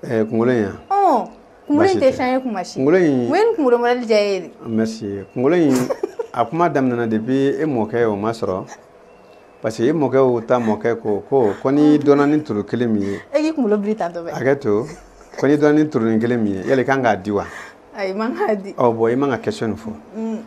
Ɛɛ kunkolo in wa? Ɔn kunkolo in tɛ changer kuma si. Kunkolo in. Mun ye nin kunkolo modèle diya e ye de? Merci kunkolo in a kuma daminɛna depuis e mɔkɛw ma sɔrɔ parce que e mɔkɛw ta mɔkɛ ko ko ko n'i dɔnna ni turu kelen min ye. E k'i kunkolo biri tantɔ bɛ. Hakɛ to ko n'i dɔnna ni turunin kelen min ye yala i kan k'a di wa? Ayi i man k'a di. Ɔ bon i man ka question nin fɔ.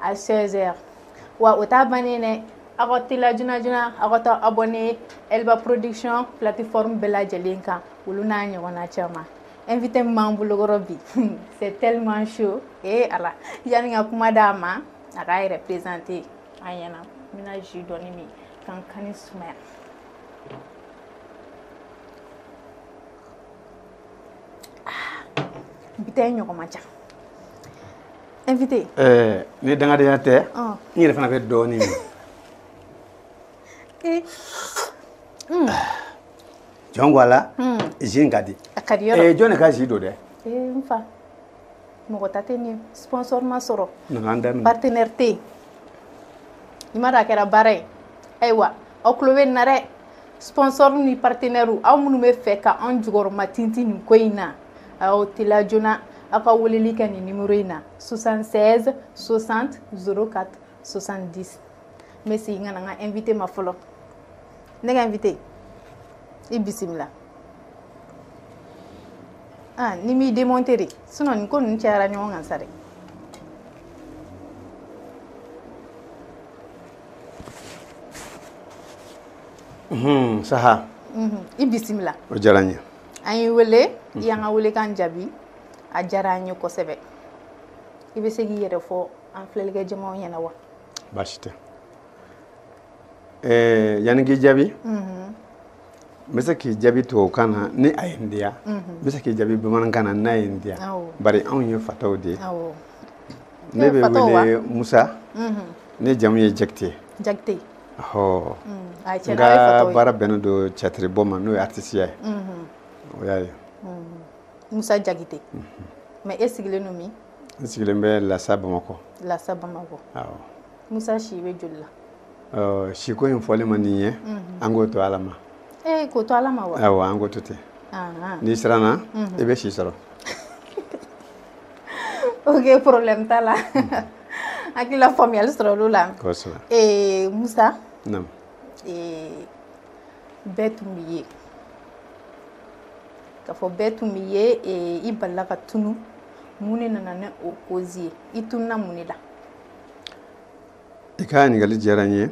à seize heures wa o taa bannen dɛ aw ka tila joona aw ka taa abonner elba production plateforme bɛɛ lajɛlen kan olu n'a ɲɔgɔn na caman invité b'an bolokɔrɔ bi c'est tellement chaud ee ala yanni ka kuma d'a ma a k'a yɛrɛ présenter an ɲɛna n bɛna ji dɔɔni min ka n kan nin sumaya bi ɲɔgɔn man ca invité ɛɛ ni dangadenya tɛ n yɛrɛ fana bɛ dɔɔnin min eh. hmm. jɔn ko ala hmm. ji ka di a ka di yɔrɔ eh, jɔn de ka ji don dɛ eh, enfin mɔgɔ ta tɛ nin sponsor ma sɔrɔ partenaire tɛ yen i ma dɔn a kɛra baara ye ayiwa aw tulo bɛ nin na dɛ sponsor ni partenaire aw minnu b'a fɛ ka an jukɔrɔma tintin nin ko in na aw tila joona aw ka weleli kɛ nin numéro in na soixante-seize soixante zéro quatre soixante-dix merci n ka na n ka invité ma fɔlɔ ne ka invité i bisimila aa ni m'i démonter dɛ sinon nin ko ninnu cayara ɲɔgɔn kan sa dɛ saha i bisimila o diyara n ye an y'i wele i y'an ka welekan jaabi a diyara an ye kosɛbɛ i bɛ se k'i yɛrɛ fɔ an filɛlikɛ jamaw ɲɛna wa baasi tɛ ɛɛ yanni k'i jaabi mhm. n bɛ se k'i jaabi tubabukan na ni a ye n diya mhm. n bɛ se k'i jaabi bamanankan na n'a ye n diya bari anw ye fataw de ye ne bɛ wele musa mhm. ne jamu ye jakite jakite hɔ n ka baara bɛnnen don tiyatiribɔ ma n'o ye aritisiya ye o y'a ye musa jakite mais e sigilen don min n sigilen bɛ lasa bamakɔ lasa bamakɔ awɔ musa si bɛ joli la siko in fɔli man di n ye an k'o to ala ma ee k'o to ala ma wa awɔ an k'o to ten n'i siranna i bɛ si sɔrɔ ok problème t'a la hakili la faamuyali sɔrɔla o la kosɛbɛ ee musa naam ee bɛɛ tun b'i ye k'a fɔ bɛɛ tun b'i ye ee i balala ka tunu mun de nana ni o cause ye i tununa mun de la i ka ɲininkali diyara n ye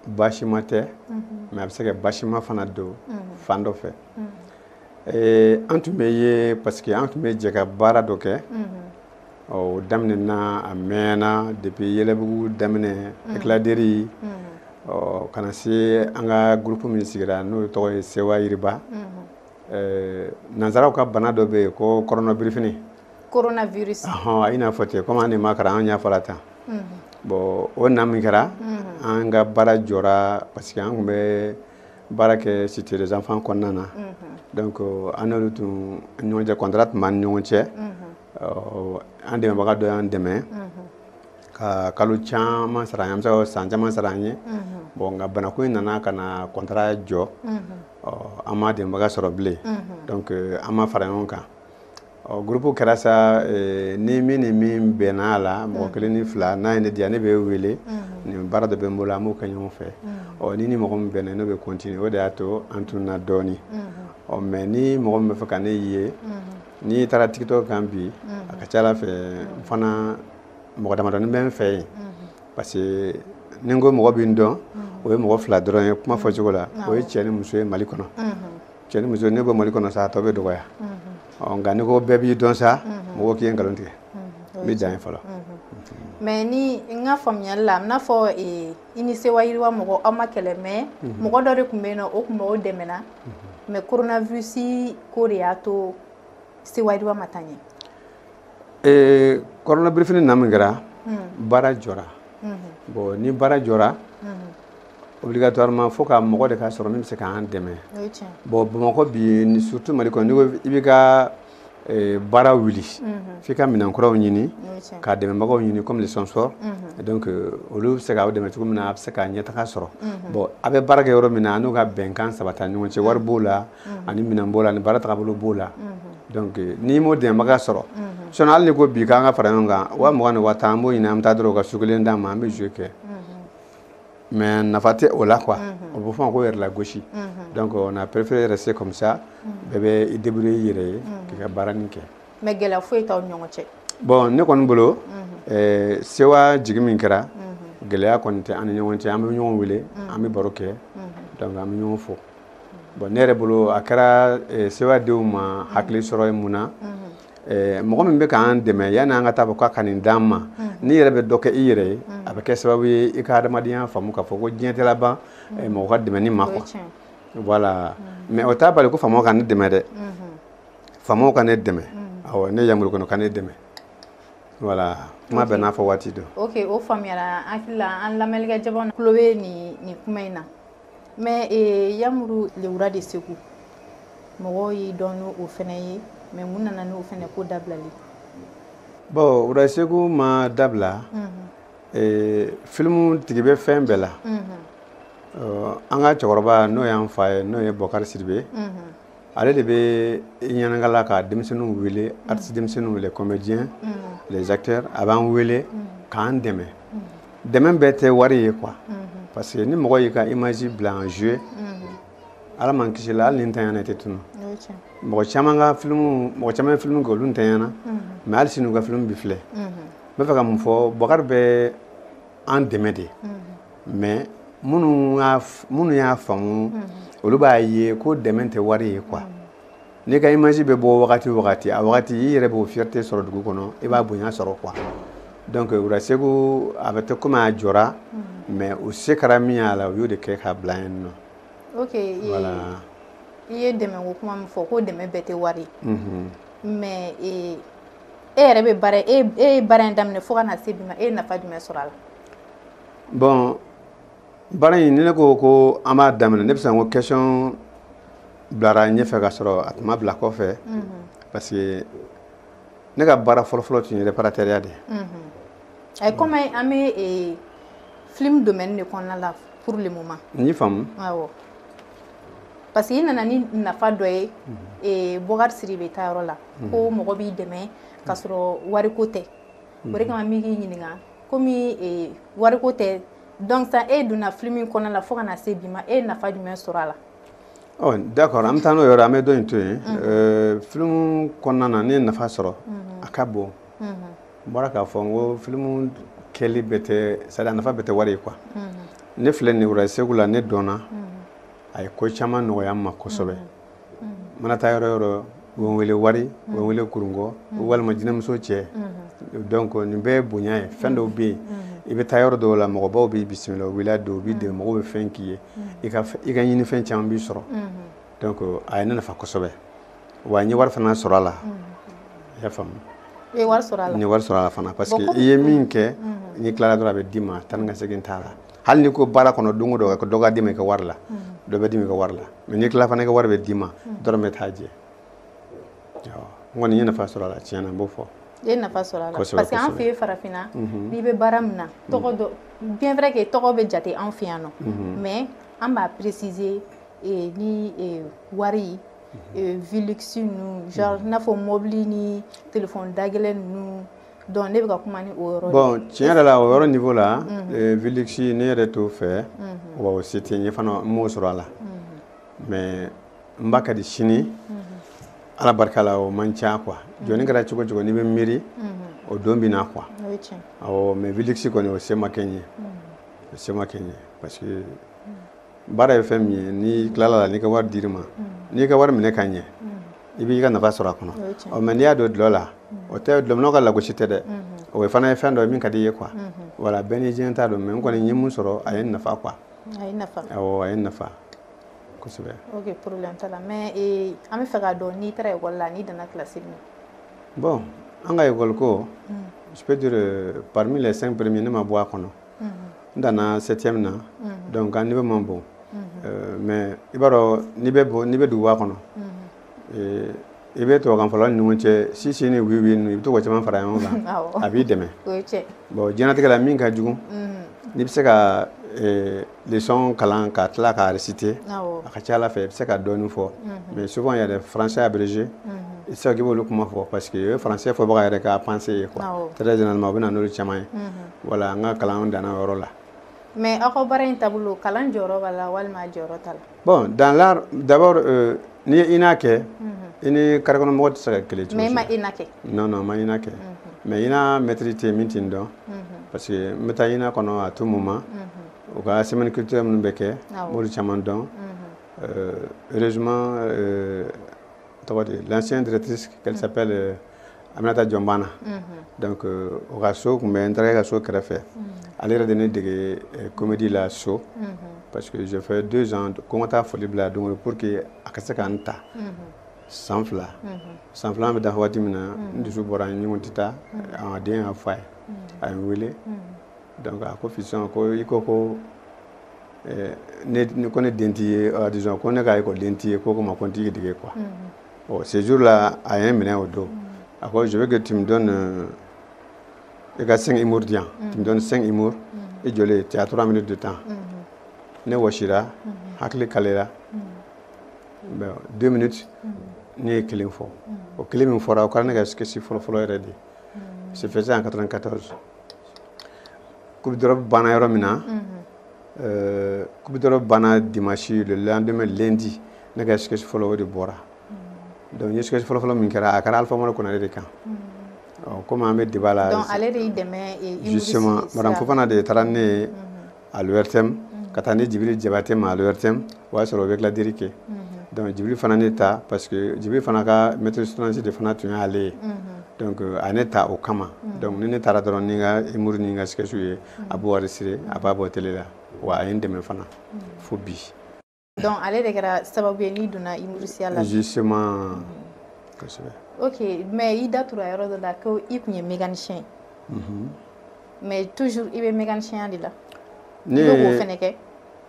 basima tɛ mais a bɛ se ka basima fana don fan dɔ fɛ an tun bɛ ye parce que an tun bɛ jɛ ka baara dɔ kɛ o daminɛ na a mɛnna depuis yɛlɛbugu daminɛ éclat de rire ka na se an ka groupe min sigira n'o tɔgɔ ye sewa yiriba nansaraw ka bana dɔ bɛ yen ko kɔrɔnabirif coronavirus ɔhɔn a n'a fɔ ten comme an de ma kalan an y'a fɔla tan bon o na min kɛra an ka baara jɔra parce que an tun bɛ baara kɛ cité des enfants kɔnɔna na donc an n'olu tun ɲɔgɔn cɛ contrat tun b'an ni ɲɔgɔn cɛ an dɛmɛbaga dɔ y'an dɛmɛ ka kalo caman sara an ye an bɛ se ka san caman sara an ye bon nka banako in nana ka na contrat jɔ an ma dɛmɛbaga sɔrɔ bilen donc an ma fara ɲɔgɔn kan Ɔ groupe kɛra sa ni min ni min bɛnna a la mɔgɔ kelen ni fila n'a ye ne diya ne bɛ wele ni baara dɔ bɛ n bolo an b'o kɛ ɲɔgɔn fɛ ɔ ni ni mɔgɔ min bɛnna ne bɛ continuer o de y'a to an tununna dɔɔnin ɔ mais ni mɔgɔ min bɛ fɛ ka ne ye n'i taara tiktok kan bi a ka ca ala fɛ n fana mɔgɔ damadɔnin bɛ n fɛ yen parce que ni n ko mɔgɔ bɛ n dɔn o ye mɔgɔ fila dɔrɔn ye kuma fɔcogo la o ye cɛ ni muso ye mali kɔnɔ cɛ ni muso ne bɛ mali kɔnɔ sa tɔ bɛ dɔgɔya ɔ nka n'i ko bɛɛ b'i dɔn sa mɔgɔ k'i ye nkalon tigɛ n bɛ dan yen fɔlɔ mais ni n ka faamuyali la n'a fɔ eh, i ni sewa yiriwa mɔgɔ aw ma kɛlɛ mais mhm. mɔgɔ dɔ de tun bɛ yen nɔ o tun b'aw dɛmɛna mais mhm. coronavirus ko de y'a to sewa yiriwa ma taa ɲɛ eh, coronavirus na min kɛra mhm. baara jɔra bon ni baara jɔra obligatoirement fo ka mɔgɔ de ka sɔrɔ min bɛ se k'an dɛmɛ bon bamakɔ bi surtout mali kɔnɔ n'i ko i b'i ka eh, baara wuli mhm. f'i ka minɛn kuraw ɲini ka dɛmɛbagaw ɲini comme les sponsors mhm. donc euh, olu bɛ se k'aw dɛmɛ cogo min na a bɛ se ka ɲɛtaga sɔrɔ mhm. bon a bɛ baara kɛ yɔrɔ min na a n'u ka bɛnkan sabata ɲɔgɔn cɛ wari b'o la ani minɛn b'o la ani baara tagabolo b'o la donc euh, n'i m'o dɛmɛbaga sɔrɔ sinon hali n'i ko bi k'an ka fara ɲɔgɔn kan wa mugan ni wa tan an b'o ɲini an bɛ taa dɔrɔn u ka su kelen d'an ma an bɛ jeu kɛ mais nafa tɛ o la quoi o bɛ f'a ma ko yɛrɛlagosi donc on a préféré rester comme ça bɛɛ bɛ i débrouiller i yɛrɛ ye k'i ka baaranin kɛ mais gɛlɛya foyi t'an ni ɲɔgɔn cɛ bon ne kɔni bolo sewa jigin min kɛra gɛlɛya kɔni tɛ an ni ɲɔgɔn cɛ an bɛ ɲɔgɔn wele an bɛ baro kɛ donc an bɛ ɲɔgɔn fo bon ne yɛrɛ bolo a kɛra sewa denw ma hakili sɔrɔ ye mun na Eh, mɔgɔ min bɛ k'an dɛmɛ yanni an ka taa fɔ k'a ka nin d'an ma mm. n'i yɛrɛ bɛ dɔ kɛ i yɛrɛ ye mm. a bɛ kɛ sababu ye i ka adamadenya faamu k'a fɔ ko diɲɛ tɛ laban mm. eh, mɔgɔ ka dɛmɛni ma quoi voilà mais o t'a bali ko faamaw ka ne dɛmɛ dɛ mm-hmm. faamaw ka ne dɛmɛ awɔ ne yamuru kɔnɔ ka ne dɛmɛ voilà kuma bɛɛ n'a fɔ waati don ok o faamuyara an hakili la an lamɛnlikɛ jama tulo bɛ nin kuma in na mais eh, yamuru les rois de segu mɔgɔw y'i dɔn n'o fɛnɛ ye mais mun nana n'o fɛnɛ ko dabilali bɔn rois segu ma dabila mhm. eh, filimu tigi bɛ fɛn bɛɛ la mhm. an ka cɛkɔrɔba n'o y'an fa ye n'o ye bɔkari sidibe mhm. ale de bɛ ɲɛnagala ka denmisɛnninw wele artiste denmisɛnninw les comédiens mm. les acteurs a b'an wele mm. k'an dɛmɛ mm. dɛmɛ bɛɛ tɛ wari ye quoi mm-hmm. parce que ni mɔgɔ y'i ka image bila en jeu mm-hmm. ala m'an kisila hali n'i ntanyana tɛ tunu mɔgɔ caman ka filimu mɔgɔ caman ye filimu kɛ olu ntanyana mm-hmm. mais hali sini u ka filimu bɛ filɛ n b'a fɛ ka min fɔ bɔkari bɛ an dɛmɛ de mais minnu y'a faamu olu b'a ye ko dɛmɛ tɛ wari ye quoi n'i ka image bɛ bɔ wagati wagati a wagati i yɛrɛ b'o fierté sɔrɔ dugu kɔnɔ i b'a bonya sɔrɔ quoi donc rois segu a bɛ ten komi a jɔra mais u se kɛra min y'a la u y'o de kɛ k'a bila yen nɔ i ye dɛmɛ kuma min fɔ ko dɛmɛ bɛɛ tɛ wari mais e yɛrɛ bɛ baara e e ye baara in daminɛ fo ka na se bi ma e ye nafa jumɛn sɔrɔ a la. bɔn baara in ni ne ko ko an b'a daminɛ ne bɛ se ko question bilara ɲɛfɛ ka sɔrɔ a tun ma bila kɔfɛ mhm. parce que ne ka baara fɔlɔfɔlɔ tun ye reparatɛriya de ye. Mhm. ayi kɔmi an bɛ e, film domaine de kɔnɔna la pour le moment. n y'i faamu. awɔ parce que i nana ni nafa dɔ ye mhm. e, bɔkari sidibe ta yɔrɔ la. ko mɔgɔ b'i dɛmɛ ka sɔrɔ wariko tɛ o de kama n bɛ k'i ɲininka kɔmi wariko tɛ donc san e donna filimu in kɔnɔna la fo ka na se bi ma e ye nafa jumɛn sɔrɔ a la d'accord an bɛ taa n'o yɔrɔ an bɛ dɔ in to yen filimu kɔnɔna na ne ye nafa sɔrɔ a ka bon n bɔra k'a fɔ n ko filimu kɛli bɛɛ tɛ c'est-à-dire nafa bɛɛ tɛ wari ye quoi ne filɛ nin rois segu la ne dɔnna a ye ko caman nɔgɔya n ma kosɛbɛ mana taa yɔrɔ o yɔrɔ u bɛ n wele wari u bɛ n wele kurungɔ walima jinɛmuso cɛ donc nin bɛɛ ye bonya ye fɛn dɔw bɛ yen i bɛ taa yɔrɔ dɔw la mɔgɔbaw b'i bisimila voilà dɔw b'i de mɔgɔw bɛ fɛn k'i ye i ka ɲini fɛn caman b'i sɔrɔ donc a ye ne nafa kosɛbɛ wa n ye wari fana sɔrɔ a la i y'a faamu n ye wari sɔrɔ a la fana parce que i ye min kɛ n'i tilara dɔrɔn a bɛ d'i ma tan nka segin t'a la hali n'i ko baara kɔnɔ don o don ko dɔ ka d'i ma i ka wari la dɔ bɛ d'i ma i ka wari la mais n'i tila fana i ka wari bɛ d'i ma dɔrɔmɛ t'a jɛ n kɔni ye nafa sɔrɔ a la tiɲɛ na n b'o fɔ i ye nafa sɔrɔ a la parce que an fɛ yen farafinna n'i bɛ baara min na tɔgɔ dɔ bien vrai que tɔgɔ bɛ jate an fɛ yan nɔ mais an b'a préciser ni wari vie luxe ninnu genre i n'a fɔ mobili ni telefɔni dagɛlɛn ninnu Donc ne bɛ kuma bon tiɲɛ yɛrɛ la o yɔrɔ niveau la vie luxe ne yɛrɛ t'o fɛ o se tɛ n ye fana n m'o sɔrɔ a la mais n ba ka di sini ala barika la o man ca quoi jɔnni kɛra cogo cogo n'i bɛ miiri o don bɛ na quoi mais vie luxe kɔni o se ma kɛ n ye o se ma kɛ n ye parce que baara ye fɛn min ye n'i tilala i ka wari dir'i ma n'i ka wari minɛ ka ɲɛ i b'i ka nafa sɔrɔ a kɔnɔ mais n'i y'a don dɔlɔ la o tɛ dɔlɔminnaw ka lagosi tɛ dɛ o fana ye fɛn dɔ ye min ka di i ye quoi voilà bɛɛ n'i diɲɛ ta don mais n kɔni ye mun sɔrɔ a ye n nafa quoi a ye nafa awɔ a ye n nafa kosɛbɛ ok problème t'a la mais ee an bɛ fɛ k'a dɔn n'i taara école la n'i danna classe min bon an ka école ko je peux dire euh, parmi les cinq premiers ne ma bɔ a kɔnɔ n danna septième na donc an niveau man bon euh, mais i b'a dɔn n'i bɛ bɔ n'i bɛ duguba kɔnɔ Ee i bɛ tubabukanfɔlaw ni ɲɔgɔn cɛ si si ni oui oui i bɛ to ka caman fara ɲɔgɔn kan a b'i dɛmɛ bon diɲɛnatigɛ la min ka jugu n'i bɛ se ka leçon kalan ka tila ka réciter a ka ca ala fɛ i bɛ se ka dɔɔnin fɔ mais souvent yɛrɛ français abrégé i tɛ se k'i b'olu kuma fɔ parce que o ye français fɔbaga yɛrɛ ka pensée ye quoi très généralement u bɛ na n'olu caman ye voilà an ka kalan danna o yɔrɔ la mais aw ka baara in taabolo kalan jɔyɔrɔ b'a la walima jɔyɔrɔ t'a la Bon dans l'art d'abord euh, n'i ye INA kɛ, unhun, i ni carré kɔnɔ mɔgɔ tɛ se ka kɛlɛ cogo si la, mais i ma INA kɛ, non non n ma INA kɛ, unhun, mais INA maître tɛ yen min tɛ n dɔn, unhun, parce que n bɛ taa INA kɔnɔ à tout moment unhun, u ka semaine culturelle minnu bɛ kɛ, awɔ, n b'olu caman dɔn, unhun, euh, heureusement euh, tɔgɔ di, l'ancienne directrice, elle s'appelle Aminata Diombana donc o ka so tun bɛ n terikɛ ka so kɛrɛfɛ ale yɛrɛ de ne dege eh, comédie la so parce que j'ai fait deux ans ko n ka taa foli bila don o pour que a ka se ka n ta san fila san fila bɛ dafa waati min na n dusu bɔra n ko n tɛ taa a den y'a fɔ a ye a ye n wele donc a ko fiston ko i ko ko eh, ne ne- ko ne den t'i ye ah, disons ko ne ka ekɔliden t'i ye ko ko ma ko n t'i dege quoi Ɔ ce jour là a ye n minɛ o don a ko je veux que tu me donnes i ka 5 humour di yan tu me donnes 5 humour i jɔlen tu as 3 minutes de temps ne wɔsira hakili kalera bon 2 minutes ne ye kelen fɔ o kelen min fɔra o kɛra ne ka sketch fɔlɔfɔlɔ yɛrɛ de c'est fait en 94 coupe d'Europe banna yɔrɔ min na kubitɔ banna dimasi an bɛ lendi ne ka sisi fɔlɔ o de bɔra dɔnku ye sisi fɔlɔfɔlɔ min kɛra a kɛra alifa amadu kɔnɔ de kan kɔmi an bɛ de b'a la fana de ye taara ne ye alitɛ ka taa ni jibiri jabatɛ ma alitɛ o y'a sɔrɔ o bɛ dilanladi kɛ dɔnkili fana ne ta parce que jibiri fana ka mɛtisi de fana tun y'ale ye a ne taa o kama dɔnkili ne taara dɔrɔn ni ka muru ni ka skisiw ye a b'o enregistrer a b'a bɔ tele la wa a ye n dɛmɛ fana fo bi donc ale de kɛra sababu ye n'i donna imurisiya la justement kosɛbɛ ok mais i da tura yɔrɔ dɔ la ko i tun ye mécanicien ye mhm. mais toujours i bɛ mécanicienya de la ne ye k'o fɛnɛ kɛ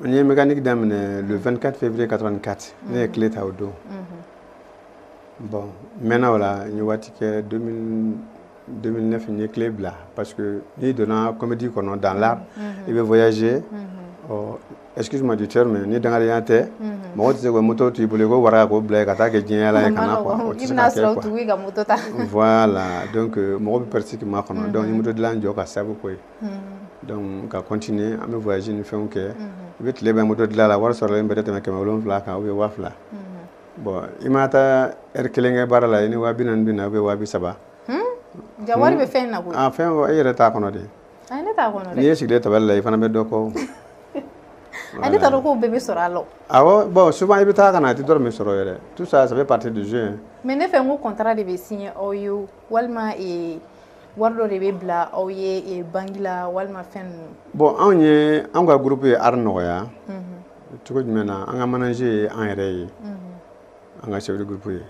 n ye mécanique daminɛ le 24 février 84 ne ye clé ta o don mhm. bon n mɛnna o la n ye waati kɛ 2000 2009 n ye clé bila parce que n'i donna comédie kɔnɔ dans l'art i bɛ voyager ɔ excuse moi du terme ni dangadenya tɛ mɔgɔ tɛ se ka moto to i bolo i ko wara k'o bila yen ka taa kɛ diɲɛyala ye ka na quoi o tɛ se ka kɛ quoi voilà donc mɔgɔ bɛ pressé k'i makɔnɔ donc n ye moto dilan jɔ ka sababu k'o ye donc ka continuer an bɛ voyage ni fɛnw kɛ i bɛ tile ban moto dilan la wari sɔrɔlen bɛɛ tɛ tɛmɛ kɛmɛ wolonwula kan ou bien waa fila bon i ma taa heure kelen kɛ baara la i ni waa bi naani bɛ na ou bien waa bi saba jaa wari bɛ fɛn na fɛn e yɛrɛ t'a kɔnɔ dɛ n'i ye sigilen tabali la i fana bɛ dɔ kɔ ne t'a dɔn k'o bɛɛ bɛ sɔrɔ a la bon souvent i bɛ taa ka na a tɛ dɔrɔmɛ sɔrɔ yɛrɛ tout ça ça fait partie du jeu mais ne fɛ ko contrat de bɛ signer aw ye walima wari dɔ de bɛ bila aw ye banque la walima fɛn bon anw ye anw ka groupe ye art nɔgɔya cogo jumɛn na an ka manager ye an yɛrɛ ye an ka chef de groupe ye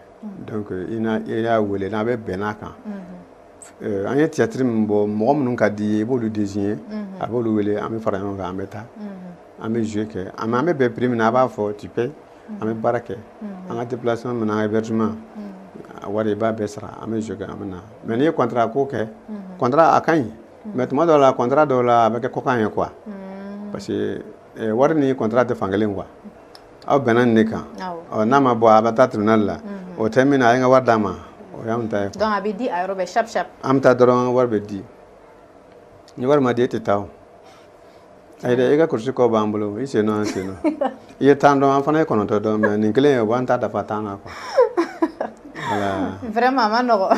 donc i n'a i y'a wele n'a bɛ bɛn n'a kan an ye théâtre min bɔ mɔgɔ minnu ka di i ye i b'olu désigner a b'olu wele an bɛ fara ɲɔgɔn kan an bɛ taa an bɛ jouer kɛ an bɛ bɛn prix min na a b'a fɔ tu payes an bɛ baara kɛ an ka déplacement min na an ka hébergement a wari i b'a bɛɛ sara an bɛ jouer kɛ an bɛ na mais n'i ye contrat ko kɛ contrat a ka ɲi mais tuma dɔw la contrat dɔw la a bɛ kɛ kɔkan ye quoi hmm. parce que eh, wari ni contrat tɛ fankelen quoi aw bɛnna nin de kan n'a ma bɔ a bɛ taa tribunal la hmm. o tɛ min na a y'an ka wari d'an ma o y'an ta ye donc a bɛ di a yɔrɔ bɛɛ shap shap an bɛ taa dɔrɔn wari bɛ di ni wari ma di e tɛ taa o Ayi i ka kurusi kɔ b'an bolo i sennɔ an sennɔ i ye tan dɔn an fana ye kɔnɔntɔ dɔn mais nin kelen ye o b'an ta dafa tan na quoi vraiment a man nɔgɔ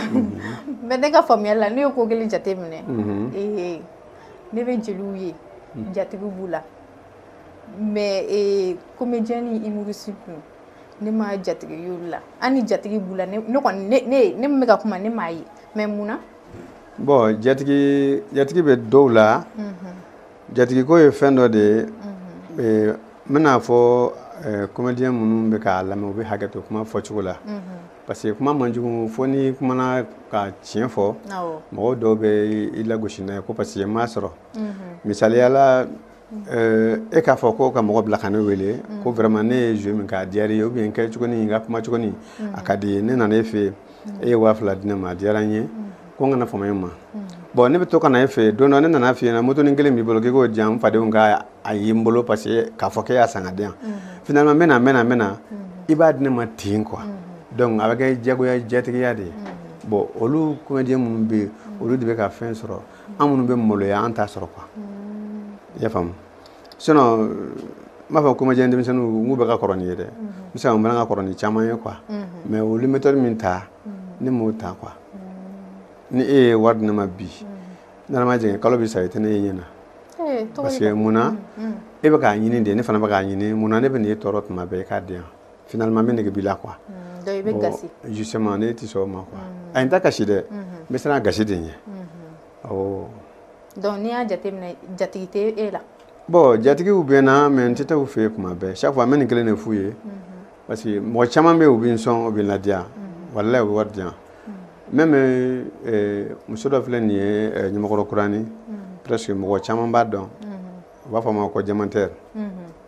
mais ne ka faamuyali la ne ye ko kelen jate minɛ ee ne bɛ jeliw ye jatigiw b'u la mais comédien ni humoriste ninnu ne ma jatigi y'olu la hali ni jatigi b'u la ne min bɛ ka kuma ne m'a ye mais mun na bon jatigi jatigi bɛ dɔw la jatigiko ye fɛn dɔ de ye n bɛna a fɔ comédien minnu bɛ k'a lamɛn u bɛ hakɛ to kuma fɔcogo la parce que kuma man jugu fo n'i kumana ka tiɲɛ fɔ mɔgɔw dɔw bɛ i lagosi n'a ye ko parce que n m'a sɔrɔ misaliya la e k'a fɔ ko ka mɔgɔ bila ka ne wele ko vraiment ne ye jeu min kɛ a diyara i ye ou bien n kɛ cogo ni n ka kuma cogo ni a ka d'i ye ne nana e fɛ yen e ye waa fila di ne ma a diyara n ye ko n kana fama e ma bon ne bɛ to ka na e fɛ yen don dɔ ne nana f'i ɲɛna motonin kelen b'i bolo k'i k'o di yan n fadenw k'a ye n bolo parce que k'a fɔ k'e y'a san k'a di yan finalement n bɛ na n bɛ na n bɛ na i b'a di ne ma ten quoi donc a bɛ kɛ jagoya jatigiya de ye bon olu comédien minnu bɛ yen olu de bɛ ka fɛn sɔrɔ an minnu bɛ maloya an t'a sɔrɔ quoi i y'a faamu sinon n b'a fɔ comédien denmisɛnninw n k'u bɛɛ ka kɔrɔ ni n ye dɛ n bɛ se ka n fana ka kɔrɔ ni caman ye quoi mais olu méthode min ta ne m'o ta quoi ni e ye wari di ne ma bi n'ala ma jɛngɛ kalo bɛ sa i tɛ ne ye ɲɛ na parce que mun na e bɛ k'a ɲini de ne fana bɛ k'a ɲini mun na ne bɛ n'e tɔɔrɔ tuma bɛɛ i k'a di yan finalement n bɛ nege b'i la quoi mm, donc i bɛ gasi justement ne tɛ sɔn o ma quoi mm. ayi n t'a kasi dɛ mm-hmm. n bɛ siran a gasi de ɲɛ mm-hmm. awɔ donc n'i y'a jateminɛ jatigi tɛ e la bon jatigiw bɛ n na mais n tɛ taa u fɛ yen tuma bɛɛ chaque fois n bɛ nin kelen de f'u ye mm-hmm. parce que mɔgɔ caman bɛ yen u bɛ n sɔn u bɛ n ladiya walayi u bɛ wari di yan même euh, euh, muso dɔ filɛ nin ye euh, Ɲamakɔrɔ Kurani presque mɔgɔ caman b'a dɔn u b'a fɔ a ma ko diamantaire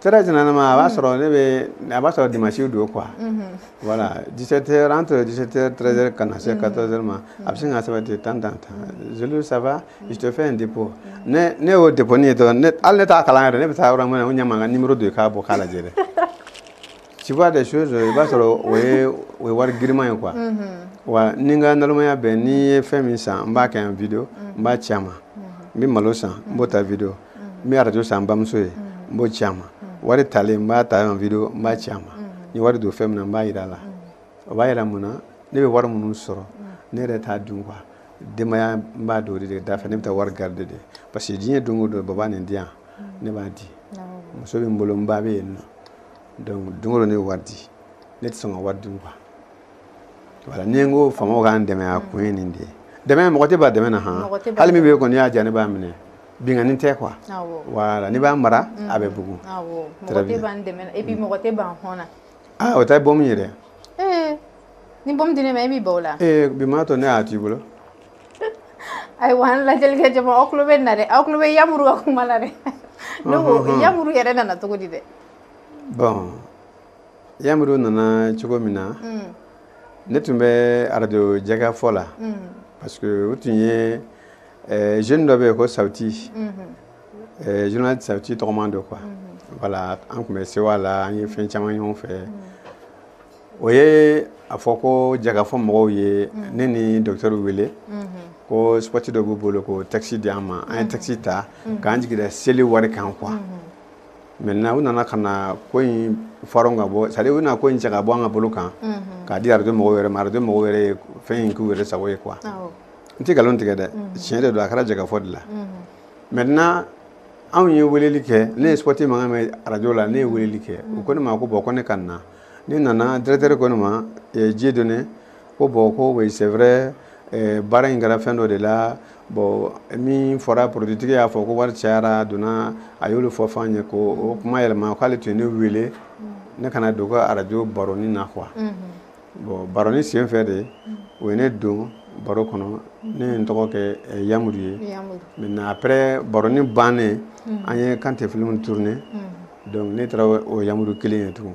très généralement a b'a mm. sɔrɔ ne bɛ a b'a sɔrɔ dimanche don quoi mm-hmm. voilà 17 heures entre 17 heures 13 heures ka na se 14 mm-hmm. heures ma a bɛ sin k'a sɛbɛn ten tan tan tan Zulu ça va je te fais un dépôt mm-hmm. ni ne y'o dépôt nin ye dɔrɔn ne hali ne t'a kalan yɛrɛ ne bɛ taa yɔrɔ min na o ɲɛ mankan numéro de ye k'a bɔ k'a lajɛ dɛ. Tu vois des choses i b'a sɔrɔ o ye o ye wari giriman ye quoi wa ni n ka nalonmaya bɛɛ ni n ye fɛn min san n b'a kɛ en video n b'a ci a ma n bɛ malo san n b'o ta video n bɛ arajo san n bamuso ye n b'o ci a ma wari talen n b'a ta en video n b'a ci a ma n ye wari don fɛn min na n b'a jira a la o b'a jira mun na ne bɛ wari minnu sɔrɔ ne yɛrɛ t'a dun quoi denbaya n b'a don o de da fɛ ne bɛ taa wari garder de parce que diɲɛ don o don baba nin di yan ne b'a di muso bɛ n bolo n ba bɛ yen nɔ donc don o don ne bɛ wari di ne tɛ sɔn ka wari dun quoi voilà ni n ko faamaw k'an dɛmɛ a kun ye nin de ye dɛmɛ mɔgɔ tɛ ban dɛmɛ na han hali min bɛ yen kɔni y'a diya ne b'a minɛ binkanni tɛ quoi voilà n'i b'a mara mm. a bɛ bugun très bien mɔgɔ tɛ ban hɔn na aa ah, o tɛ bɔmu ye dɛ eh, ni bɔmu di ne ma e b'i ban o la ee eh, bi m'a to ne y'a t'i bolo ayiwa an lajɛlikɛ jama aw tulo bɛ nin na dɛ aw tulo bɛ yamuru ka kuma la dɛ ne ko yamuru yɛrɛ nana cogo di dɛ bon yamuru nana cogo min na mm. ne tun bɛ arajo jɛkafɔ la mm. parce que o tun ye eh, jeune dɔ bɛ yen ko sawuti mm-hmm. eh, journaliste sawuti tɔgɔman don quoi mm-hmm. voilà an tun bɛ sewa la an ye fɛn caman ɲɔgɔn fɛ mm. o ye a fɔ ko jɛkafɔ mɔgɔw ye ne ni docteur wele ko spɔti dɔ b'u bolo ko taxi di an ma an ye taxi ta k'an jigi da seli wari kan quoi maintenant u nana ka na ko in fara ka bɔ c'est-à-dire u nana ko in cɛ ka bɔ an ka bolo kan k'a di arajo mɔgɔw yɛrɛ ma arajo mɔgɔw yɛrɛ ye fɛn in k'u yɛrɛ sago ye quoi n tɛ nkalon tigɛ dɛ tiɲɛ de don a kɛra jɛkafɔ de la maintenant anw ye weleli kɛ ne ye spɔti mankan mɛn arajo la ne ye weleli kɛ u ko ne ma ko bon ko ne ka na ne nana directeur ko ne ma Dieudonné ko bon ko oui c'est vrai eh, baara in kɛra fɛn dɔ de la bon min fɔra produitigi y'a fɔ ko wari cayara a donna a y'olu fɔ f'an ye ko o kuma yɛlɛma k'ale tun ye ne wele ne ka na don ka arajo baroni na quoi bon baroni sen fɛ de o ye ne don baro kɔnɔ ne ye n tɔgɔ kɛ eh, yamuru ye maintenant après baroni bannen an ye kante film tourné donc ne taara o- o yamuru kelen ye tugun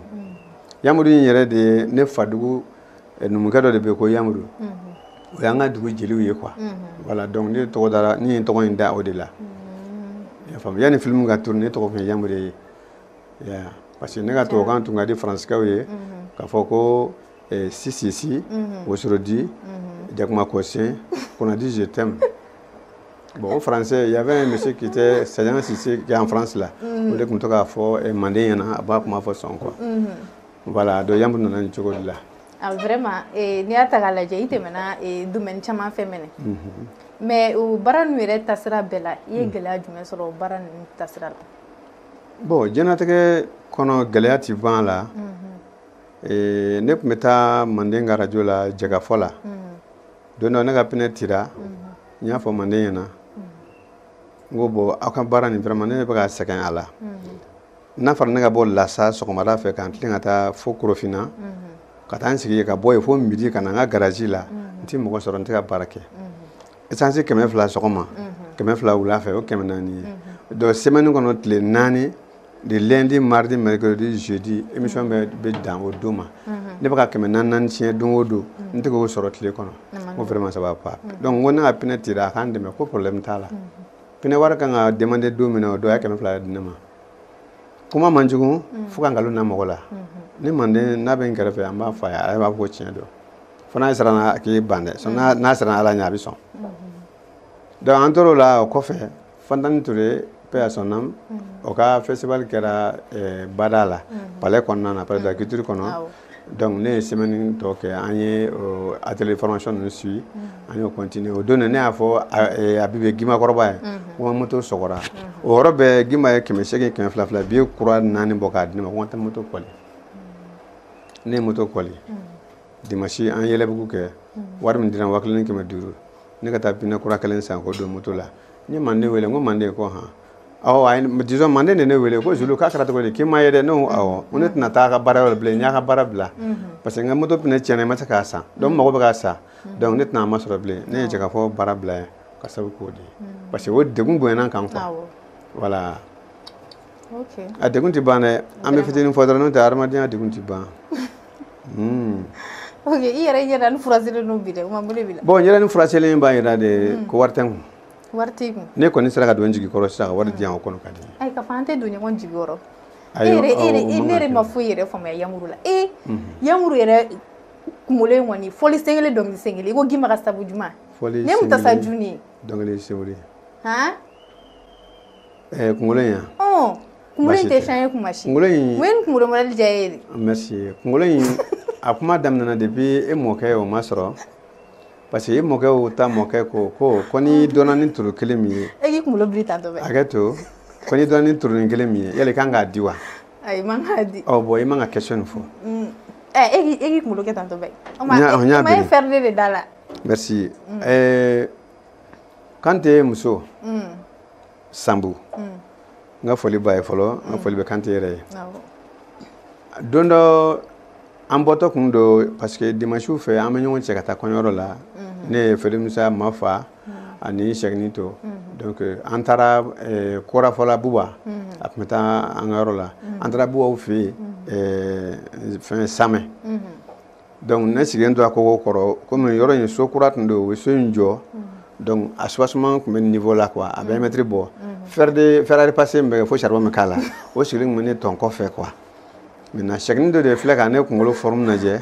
yamuru in yɛrɛ de ye ne fadugu eh, numukɛ dɔ de bɛ ko yamuru o y'an ka dugu jeliw ye quoi voilà donc ne tɔgɔ dara ne ye tɔgɔ in da o de la i y'a faamu yanni filimu ka tourner ne tɔgɔ tun ye yamuru ye parce que ne ka tubabukan tun ka di faransikɛw ye k'a fɔ ko eh, sisisi wosorodi jakuma kɔsen qu'on a dit je t'aime bon o français il y avait un monsieur qui était Sajan Sise qui est en France là mm. o de tun to k'a fɔ eh, manden ɲɛna a b'a kuma fɔ sɔn quoi mm-hmm. Voilà donc yamuru nana nin cogo de la ah vraiment n'i y'a ta k'a lajɛ i tɛmɛna domaine caman fɛ mɛnɛ mais o baara ninnu yɛrɛ tasira bɛɛ la i ye gɛlɛya jumɛn sɔrɔ o baara ninnu tasira la bon diɲɛnatigɛ kɔnɔ gɛlɛya tɛ ban a la ne tun bɛ taa manden ka arajo la jɛkafɔ la don dɔ ne ka pinɛ cira n y'a fɔ manden ɲɛna n ko bon aw ka baara nin vraiment ne bɛ ka sɛgɛn a la n'a fɔra ne ka bɔ lasa sɔgɔmada fɛ ka n tilen ka taa fo korofina mhm. ka taa n sigi ka bɔ yen fo midi ka na n ka garaji la mhm. n tɛ mɔgɔ sɔrɔ n tɛ ka baara kɛ esansi mhm. kɛmɛ fila sɔgɔma kɛmɛ fila wula fɛ o kɛmɛ naani ye donc semaine kɔnɔ tile naani de lundi mardi mercredi jeudi émission bɛ bɛ dan o don ma ne bɛ ka kɛmɛ naani naani tiɲɛ don o don n tɛ k'o sɔrɔ tile kɔnɔ n ko vraiment ça va pas donc n ko ne ka pinɛ cira a ka n dɛmɛ ko problème t'a la pinɛ wari kan ka demander don min na o don a ye kɛmɛ fila di ne ma kuma man jugu mm. fo ka nkalon na mɔgɔ la ni manden n'a bɛ n kɛrɛfɛ an b'a fɔ a ye ale b'a fɔ ko tiɲɛ don fo n'a siranna a k'i ban dɛ n'a siranna ala ɲɛ a bɛ sɔn donc an tor'o la o kɔfɛ fantani ture paix à son âme o ka festival kɛra eh, bada la palais kɔnɔna na palais de la culture kɔnɔ donc ne ye semaine tɔ kɛ an ye atelier formation ninnu suivi mm-hmm. an y'o continuer o don ne y'a fɔ Abibe eh, Gimakɔrɔba ye mm-hmm. ko n ka moto sɔgɔra mm-hmm. o yɔrɔ bɛɛ Gima ye kɛmɛ seegin kɛmɛ fila fila biye kura naani bɔ k'a di ne ma ko n ka taa moto kɔli ne ye moto kɔli dimanche an ye yɛlɛbugu kɛ wari min dira wa kelen ni kɛmɛ duuru ne ka taa pinɛ kura kelen san k'o don moto la n ye manden wele n ko manden ko han disons manden de ne wele ko zulu k'a kɛra cogo di k'i ma ye dɛ ne ko awɔ ko ne tɛna taa a ka baara yɔrɔ bilen n y'a ka baara bila parce que n ka moto pinɛ tiɲɛna n ma se k'a san donc n mago bɛ k'a san donc ne tɛna a masɔrɔ bilen ne ye jɛkafɔ baara bila yan ka sabu k'o de ye parce que o degun bonyana n kan quoi voilà a degun tɛ ban dɛ an bɛ fitinin fɔ dɔrɔn n'o tɛ hadamadenya degun tɛ ban ok i yɛrɛ ɲɛda nin furaselen don bi dɛ o ma mun de b'i la bon ɲɛda nin furaselen b'a jira de ko wari tɛ n kun ne kɔni sera ka don jigi kɔrɔ sisan ka wari di yan o kɔnɔ ka di ayi ka fɔ an tɛ don ɲɔgɔn jigi kɔrɔ e yɛrɛ e yɛrɛ e ne yɛrɛ ma foyi yɛrɛ faamuya yamuru la ee yamuru yɛrɛ kunkolo in kɔni fɔli sen kelen dɔnkili sen kelen i ko gima ka sabu juma fɔli ne mu tasa juni dɔnkili sen kelen han ɛɛ kunkolo in yan ɔn kunkolo in tɛ changer kuma si kunkolo in mun ye nin kunkolo mɔdɛli diya e ye de merci kunkolo in a kuma daminɛna depuis e mɔkɛ o ma sɔrɔ parce que e mɔkɛ o ta mɔkɛ ko ko ko n'i dɔnna ni turu kelen min ye e k'i kunkolo biri tan tuma bɛɛ hakɛ to ko n'i dɔnna ni turunin kelen min ye yala i kan k'a di wa ayi man k'a di ɔ bon i man ka question nin fɔ mm. eh, e k'i e k'i kunkolo kɛ tan tuma bɛɛ o ma e fɛrɛlen de da la merci mm. eh, kante muso mm. sanbu hmm. n ka foli b'a ye fɔlɔ n ka foli bɛ kante yɛrɛ ye don dɔ an bɔtɔ tun don parce que dimansiw fɛ an bɛ ɲɔgɔn cɛ ka taa kɔɲɔyɔrɔ la mhm. ne ye frère musa mafa mhm. ani sɛgini to mhm. donc euh, an taara euh, korafɔla buba a tun bɛ taa an ka yɔrɔ la an taara bubaw fɛ yen euh, fɛn samɛ Donc ne sigilen tora kogo kɔrɔ komi yɔrɔ in so kura tun don u ye so in jɔ donc a soubassement tun bɛ niveau la quoi a bɛ mɛtiri bɔ fer de fer à repasser min bɛ kɛ fo charbon bɛ k'a la o sigilen tun bɛ ne tɔn kɔfɛ quoi maintenant sɛkini dɔ de filɛ ka ne kunkolo forme lajɛ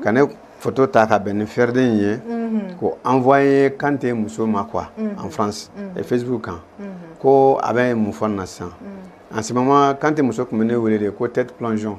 ka ne photo ta ka bɛn ni ferden in ye k'o envoyer Kante muso ma quoi en France et Facebook kan ko a bɛ mun fɔ nin na sisan en ce moment Kante muso tun bɛ ne wele de ko tête plongeon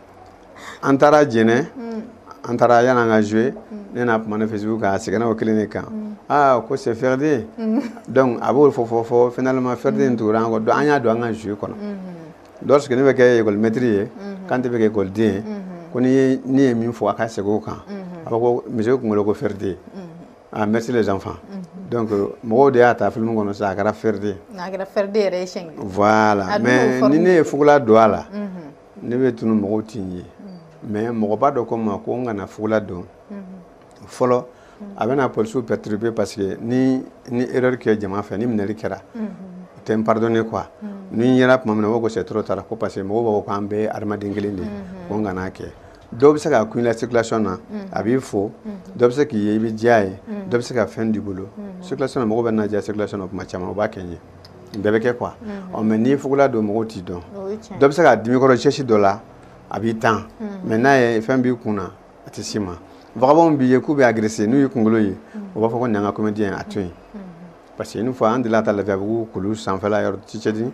an taara jɛnɛ mm. an taara yan n'an ka jouer mm. ne n'a kumana facebook kan a seginna o kelen de kan mm. aa ah, ko c'est Ferden donc a b'o fɔ fɔ fɔ finalement Ferden tugura an kɔ donc an y'a don an ka jouer kɔnɔ mm-hmm. lorsque ne bɛ kɛ école maître ye mm-hmm. Kante bɛ kɛ école den ye mm-hmm. ko ni ye ne ye min fɔ a ka segin o kan a b'a ko monsieur kunkolo ko Ferden ah merci les enfants donc mɔgɔw de y'a ta film kɔnɔ sisan a kɛra Ferden a kɛra Ferden yɛrɛ ye siɲɛ kelen voilà mais ni ne ye fugula don a la ne bɛ tunu mɔgɔw tɛ n ye mais mɔgɔba dɔ ko n ma ko n kana fugula don fɔlɔ a bɛna polisiw perturber parce que ni n ye erreur kɛ jama fɛ ni minɛli kɛra o tɛ n pardonner quoi ni n yera tuma min na o ko c'est trop tard ko parce que mɔgɔw b'a fɔ k'an bɛɛ ye hadamaden kelen de ye ko n kana kɛ dɔw bɛ se k'a kun i la circulation na a b'i fo dɔ bɛ se k'i ye i bɛ diya a ye dɔ bɛ se ka fɛn d'i bolo circulation na mɔgɔw bɛ n ladiya circulation na tuma caman u b'a kɛ n ye nin bɛɛ bɛ kɛ quoi ɔ mais n'i ye fugula don mɔgɔw t'i dɔn dɔ bɛ se k'a dimi kɔrɔ sɛsi dɔ la a b'i tan mais n'a ye fɛn b'i kun na a tɛ s'i ma vagabond b'i ye k'u b'i agresser n'u y'i kunkolo ye u b'a fɔ ko nin y'an ka comédien ye a to yen Parce que une fois an delila ka taa Lafiyabugu kulu sanfɛla yɔrɔ Tchétchénie,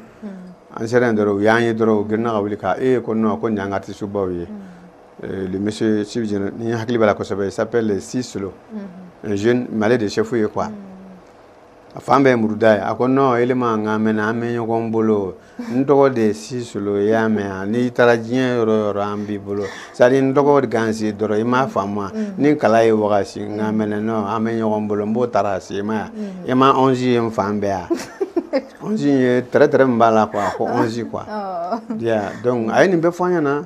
an sera yen dɔrɔn u y'an ye dɔrɔn u girinna ka wuli ka ee ko non ko nin y'an ka artiste baw ye le monsieur si bien ni n hakili b'a la kosɛbɛ il s'appelle Sisolo un jeune mais ale de ye chef ye quoi a fan bɛɛ ye muruda ye, a ko non Elima n k'an mɛnna an bɛ ɲɔgɔn bolo n tɔgɔ de ye Sisolo i y'a mɛn yan n'i taara diɲɛ yɔrɔ o yɔrɔ an b'i bolo c'est-à-dire n tɔgɔ gansan dɔrɔn i m'a faamuya mm. ni kala y'i wagasi nka mm. mɛnɛ non an bɛ ɲɔgɔn bolo n b'o tracer ma yan mm. i ma onze ye n fan bɛɛ yan onze ye tɛrɛtɛrɛ min b'a la quoi ko onze quoi ya donc a ye nin bɛɛ fɔ an ɲɛna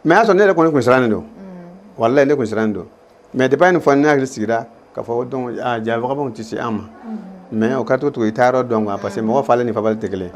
mais y'a sɔrɔ ne yɛrɛ kɔni kun sirannen don walayi ne kun sirannen don mais depuis a ye nin fɔ ne hakili sigira k'a fɔ donc ah, jaa vagabond tɛ se an ma mm-hmm. mais o ka to tugu i taayɔrɔ dɔn quoi parce que mm-hmm. mɔgɔ falen ni fabali tɛ kelen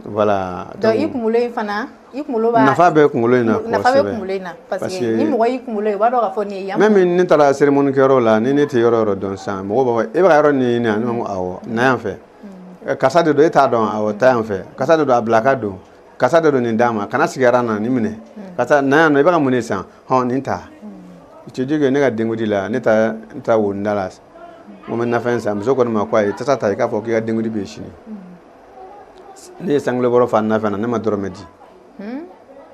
voilà donc i kunkolo in fana i kunkolo b'a nafa bɛ kunkolo in na nafa bɛ kunkolo in na parce que ni mɔgɔ y'i kunkolo ye o b'a dɔn k'a fɔ nin ye yan même ni ne taara cérémonie kɛyɔrɔ la ni ne tɛ yɔrɔ yɔrɔ dɔn sisan mɔgɔw b'a fɔ e bɛ ka yɔrɔ nin ɲini yan ne b'a fɔ awɔ na yan fɛ mm-hmm. eh, karisa de don e t'a dɔn awɔ taa yan fɛ karisa de don a bila ka don karisa de don nin d'a ma kana sigi aran na nin minɛ hmm. karisa na yan nɔ i bɛ ka mun de san hɔn nin ta hmm. tu dis que ne ka denkundi la ne taa ne taa wonda la n ko n bɛ nafɛn san muso kɔni ma ko ayi tasa ta i k'a fɔ k'i ka denkundi bɛ yen sini hmm. ne ye sangule bɔrɔ fa nafɛn na ne ma dɔrɔmɛ di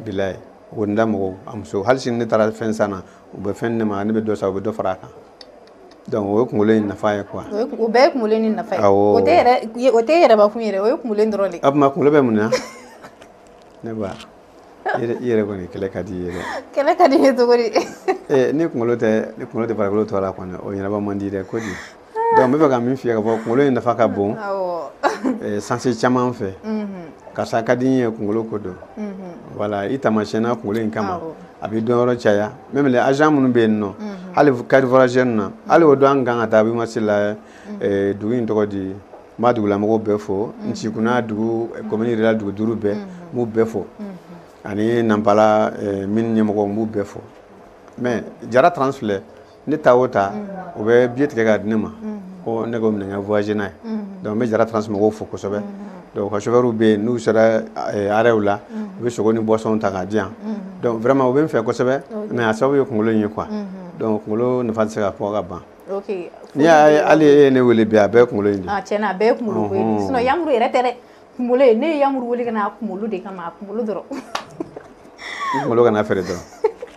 bilayi wonda mɔgɔw a muso hali sini ne taara fɛn san na u bɛ fɛn ne ma ne bɛ dɔ san u bɛ dɔ fara a kan Donc o ye kunkolo in nafa ye quoi o ye kun- o bɛɛ ye kunkolo in nafa ye Awɔ. o tɛ yɛrɛ ye- o tɛ yɛrɛba kun yɛrɛ o ye kunkolo in dɔrɔn de ye. a tuma kunkolo bɛ mun na ne ba i yɛrɛ- i yɛrɛ kɔni kɛlɛ ka di i ye dɛ kɛlɛ ka di ne cogo di Eh, ni kunkolo tɛ ni kunkolo tɛ farikolo tɔ la kɔni o ɲɛnabɔ man di dɛ ko di donc n bɛ fɛ ka min f'i ye ka fɔ kunkolo in nafa ka bon awɔ eh, sens caman fɛ Mhm, karisa ka di n ye kunkolo ko don mhm. voilà i taamasiyɛnna kunkolo in kama Awɔ. a b'i dɔnyɔrɔ caya même les agents minnu bɛ yen nɔ hali carte voyageur na hali o don an kan ka taa Abimasi la dugu in tɔgɔ di n b'a dugulamɔgɔw bɛɛ fo Nsikunna dugu commune rurale dugu duuru bɛɛ n b'u bɛɛ fo ani Nampala mine ɲɛmɔgɔw n b'u bɛɛ fo mais Jara trans filɛ ne taa o taa u bɛ billet tigɛ ka di ne ma ko ne k'o minɛ n ka voyager n'a ye donc n bɛ jara trans mɔgɔw fo kosɛbɛ donc ka chauffeurw bɛ yen n'u sera eh, arrêtw la u bɛ sogo ni boisson ta k'a di yan donc vraiment u bɛ n fɛ kosɛbɛ mais a sababu ye kunkolo in ye quoi donc kunkolo nafa tɛ se ka fɔ ka ban n'i y'a ye hali e ye ne wele bi a bɛɛ ye kunkolo in de ye ah, tiɲɛna a bɛɛ ye kunkolo ko ye sinon yamuru yɛrɛ tɛ dɛ kunkolo ye ne ye yamuru wele ka na a kunkolo de kama a kunkolo dɔrɔn i kunkolo kana feere dɔrɔn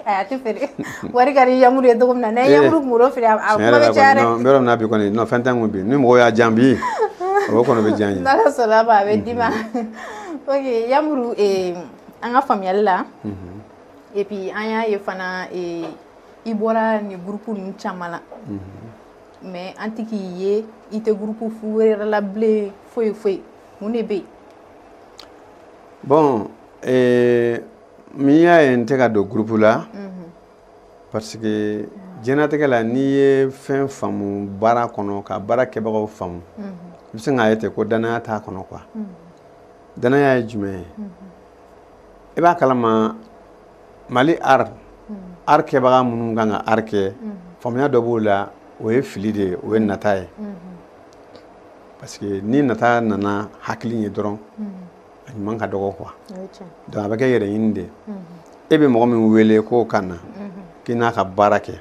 a tɛ feere wari ka di yamuru ye cogo min na n'a ye yamuru kunkolo feere a kuma bɛ caya dɛ n bɛ yɔrɔ min na bi kɔni non fɛn tɛ n kun bi ni mɔgɔw y'a jan bi o kɔni bɛ diya n ye n'ala sɔnna ma a bɛ d'i ma ok yamuru eh, an ka faamuyali la et puis an y'a ye fana eh, i bɔra nin gurupu ninnu caman na mais an tɛ k'i ye i tɛ gurupu fu wɛrɛ la bilen foyi foyi mun de bɛ yen. bon ee min y'a ye n tɛ ka don gurupu la. Mhm. parce que diɲɛnatigɛ la n'i ye fɛn faamu baara kɔnɔ ka baara kɛbagaw faamu. Mhm. i bɛ se k'a ye ten ko danaya t'a kɔnɔ quoi. Mhm. danaya ye jumɛn ye. i b'a kalama mali art art kɛbaga minnu kan ka art kɛ faamuya dɔ b'o la o ye fili de ye o ye nata ye. parce que ni nata nana hakili ye dɔrɔn a ɲuman ka dɔgɔ quoi donc a bɛ kɛ yɛrɛɲini de e bɛ mɔgɔ min wele k'o ka na k'i n'a ka baara kɛ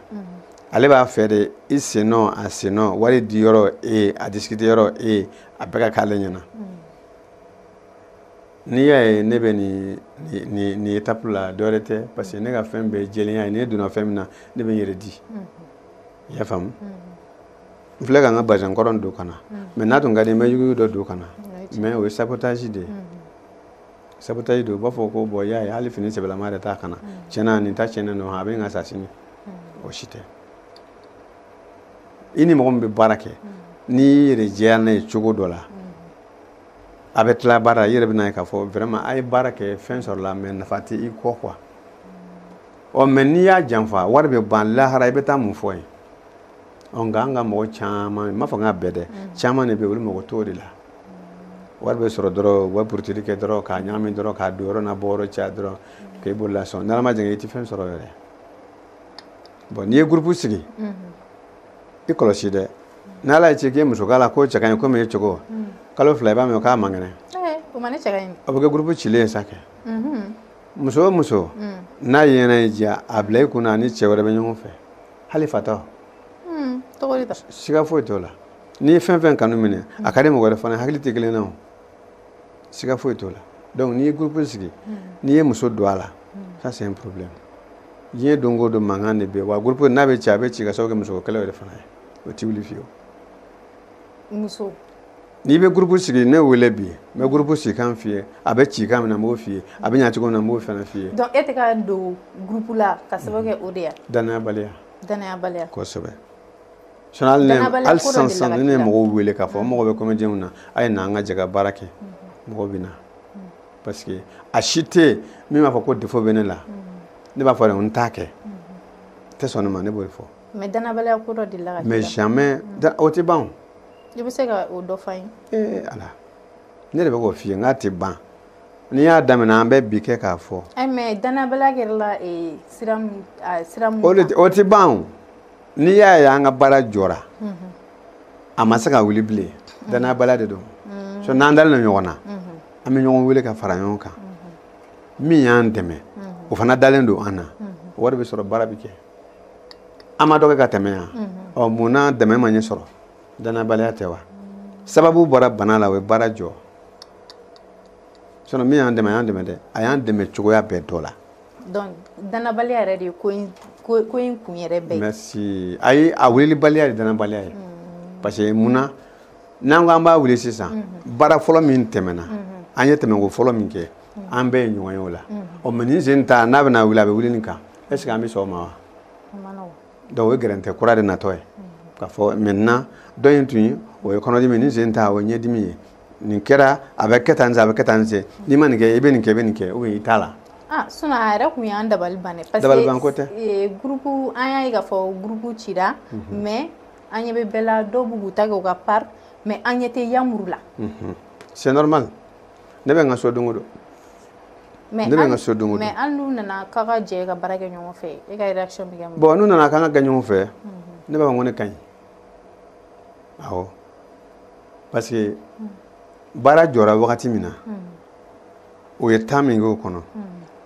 ale b'a fɛ de i sennɔ a sennɔ wari di yɔrɔ e a discuter yɔrɔ e a bɛɛ ka k'ale ɲɛna n'i y'a ye ne bɛ nin nin nin étape la dɔ wɛrɛ tɛ parce que ne ka fɛn bɛɛ ye jɛlenya ye ne donna fɛn min na ne bɛ n yɛrɛ di i y'a faamu n filɛ ka n ka bazɛn kɔrɔ don ka na mais n'a tun ka di n bɛ yuguyugu dɔ don ka na mais o ye sabotage de ye sabotage de u b'a fɔ ko bon i y'a ye hali fini sɛbɛlama yɛrɛ t'a kan a tiɲɛna nin ta tiɲɛnen don a bɛ n ka sa sini o si tɛ i ni mɔgɔ min bɛ baara kɛ n'i y'i yɛrɛ jɛya n'a ye cogo dɔ la a bɛ tila baara i yɛrɛ bɛn'a ye k'a fɔ vraiment a ye baara kɛ fɛn sɔrɔla mais nafa tɛ i kɔ quoi ɔ mais n'i y'a janfa wari bɛ ban lahara i bɛ taa mun fɔ yen nka an ka mɔgɔ caman n m'a fɔ n k'a bɛɛ dɛ caman de bɛ yen olu mago t'o de la wari bɛ sɔrɔ dɔrɔn u bɛ buruteli kɛ dɔrɔn k'a ɲagami dɔrɔn k'a donyɔrɔ n'a bɔyɔrɔ caya dɔrɔn k'i bolola sɔn n'ala ma jɛn i tɛ fɛn sɔrɔ yɛrɛ bon n'i ye gurupu sigi i kɔlɔsi dɛ n'ala ye ci k'i ye muso k'a la k'o cɛ ka ɲi komi e cogo kalo fila i b'a mɛn k'a man kɛnɛ o bɛ kɛ gurupu cilen ye sa kɛ muso o muso n'a yɛrɛ y'i diya a bila i kunna a ni cɛ wɛrɛ bɛ ɲɔgɔn fɛ hali fatɔ hmm, siga foyi t'o la n'i ye fɛn fɛn kanu minɛ a ka di mɔgɔ wɛrɛ fana ye hakili tɛ kelen na o siga foyi t'o la donc n'i ye groupe sigi hmm. n'i ye muso don a la hmm. ça c'est un problème diɲɛ don o don mankan de bɛ wa groupe n'a bɛ ci a bɛ ci ka sababu kɛ musoko kɛlɛ yɛrɛ fana ye o tɛ wuli fiyewu muso n'i bɛ gurupu sigi ne wele bi n bɛ gurupu sigi kan f'i ye a bɛ ci kan min na n b'o f'i ye a bɛ ɲa cogo min na n b'o fana f'i ye. donc e tɛ ka don gurupu la ka sababu kɛ o de ye. danayabaliya. danayabaliya. kosɛbɛ. sinon hali ne hali sisan sisan ni ne ye mɔgɔw wele k'a fɔ n mago bɛ kɔmɛdiyɛnw na a ye na an ka jɛ ka baara kɛ mɔgɔw bɛ na parce que a si tɛ yen min b'a fɔ ko défaut bɛ ne la ne b'a fɔ de n t'a kɛ tɛ sɔn ne ma ne b'o de fɔ. mais danabaliya ko dɔ delila ka k'i la. mais jamais o tɛ ban o. i bɛ se ka o dɔ f'an ye ee ala ne de bɛ k'o f'i ye n k'a tɛ ban n'i y'a daminɛ an bɛ bi kɛ k'a fɔ eh, mais danabaliya kɛra la eh, sira o tɛ ban n'i y'a ye an ka baara jɔra mhm. a ma se ka wuli bilen mhm. danayabaliya de don mhm. so n'an dalen don ɲɔgɔn na an bɛ ɲɔgɔn wele ka fara ɲɔgɔn kan min y'an dɛmɛ o fana dalen don an na wari bɛ sɔrɔ baara bɛ kɛ an ma dɔ kɛ ka tɛmɛ yan ɔ mun na dɛmɛ ma ɲɛ sɔrɔ danabaliya tɛ wa sababu bɔra bana la o ye baara jɔ sinon min y'an dɛmɛ a y'an dɛmɛ dɛ a y'an dɛmɛ cogoya bɛɛ dɔ la donc danabaliya yɛrɛ de ye ko in ko ko in kun yɛrɛ bɛɛ ye merci ayi a wulilibaliya de danabaliya ye mm. parce que mun na n'an ko an b'a wuli sisan mm-hmm. baara fɔlɔ min tɛmɛna mm-hmm. an ye tɛmɛko fɔlɔ min kɛ mm-hmm. an bɛɛ ye ɲɔgɔn ye o la ɔ mais nin sen ta n'a bɛna wuli a bɛ wuli nin kan est ce que an bɛ sɔn o ma wa donc o ye gɛrɛntɛ kura de natɔ ye k'a fɔ maintenant dɔ in tun ye o ye kɔnɔdimi nin sen ta o ye ɲɛdimi ye nin kɛra a bɛ kɛ tan a bɛ kɛ tan sen n'i ma nin kɛ i bɛ nin kɛ i bɛ nin kɛ ou bien i t'a la ah sinon a yɛrɛ tun y'an dabali ban dɛ parce que dabalibanko tɛ eh, groupe an y'a ye k'a fɔ groupe cira mhm. mais an ɲɛ bɛ bɛɛ la dɔw b'u k'u ta kɛ u ka part mais an ɲɛ tɛ yamuru la mhm. c'est normal ne bɛ n ka so don o don ne bɛ n ka so don o don mais hali n'u nana k'a ka jɛ ka baara kɛ ɲɔgɔn fɛ e ka réaction bɛ kɛ mun ye bon n'u nana k'an ka kɛ ɲɔgɔn fɛ ne b'a fɔ ko ne ka ɲi awɔ parce que baara jɔra wagati min na o ye temps min kɛ o kɔnɔ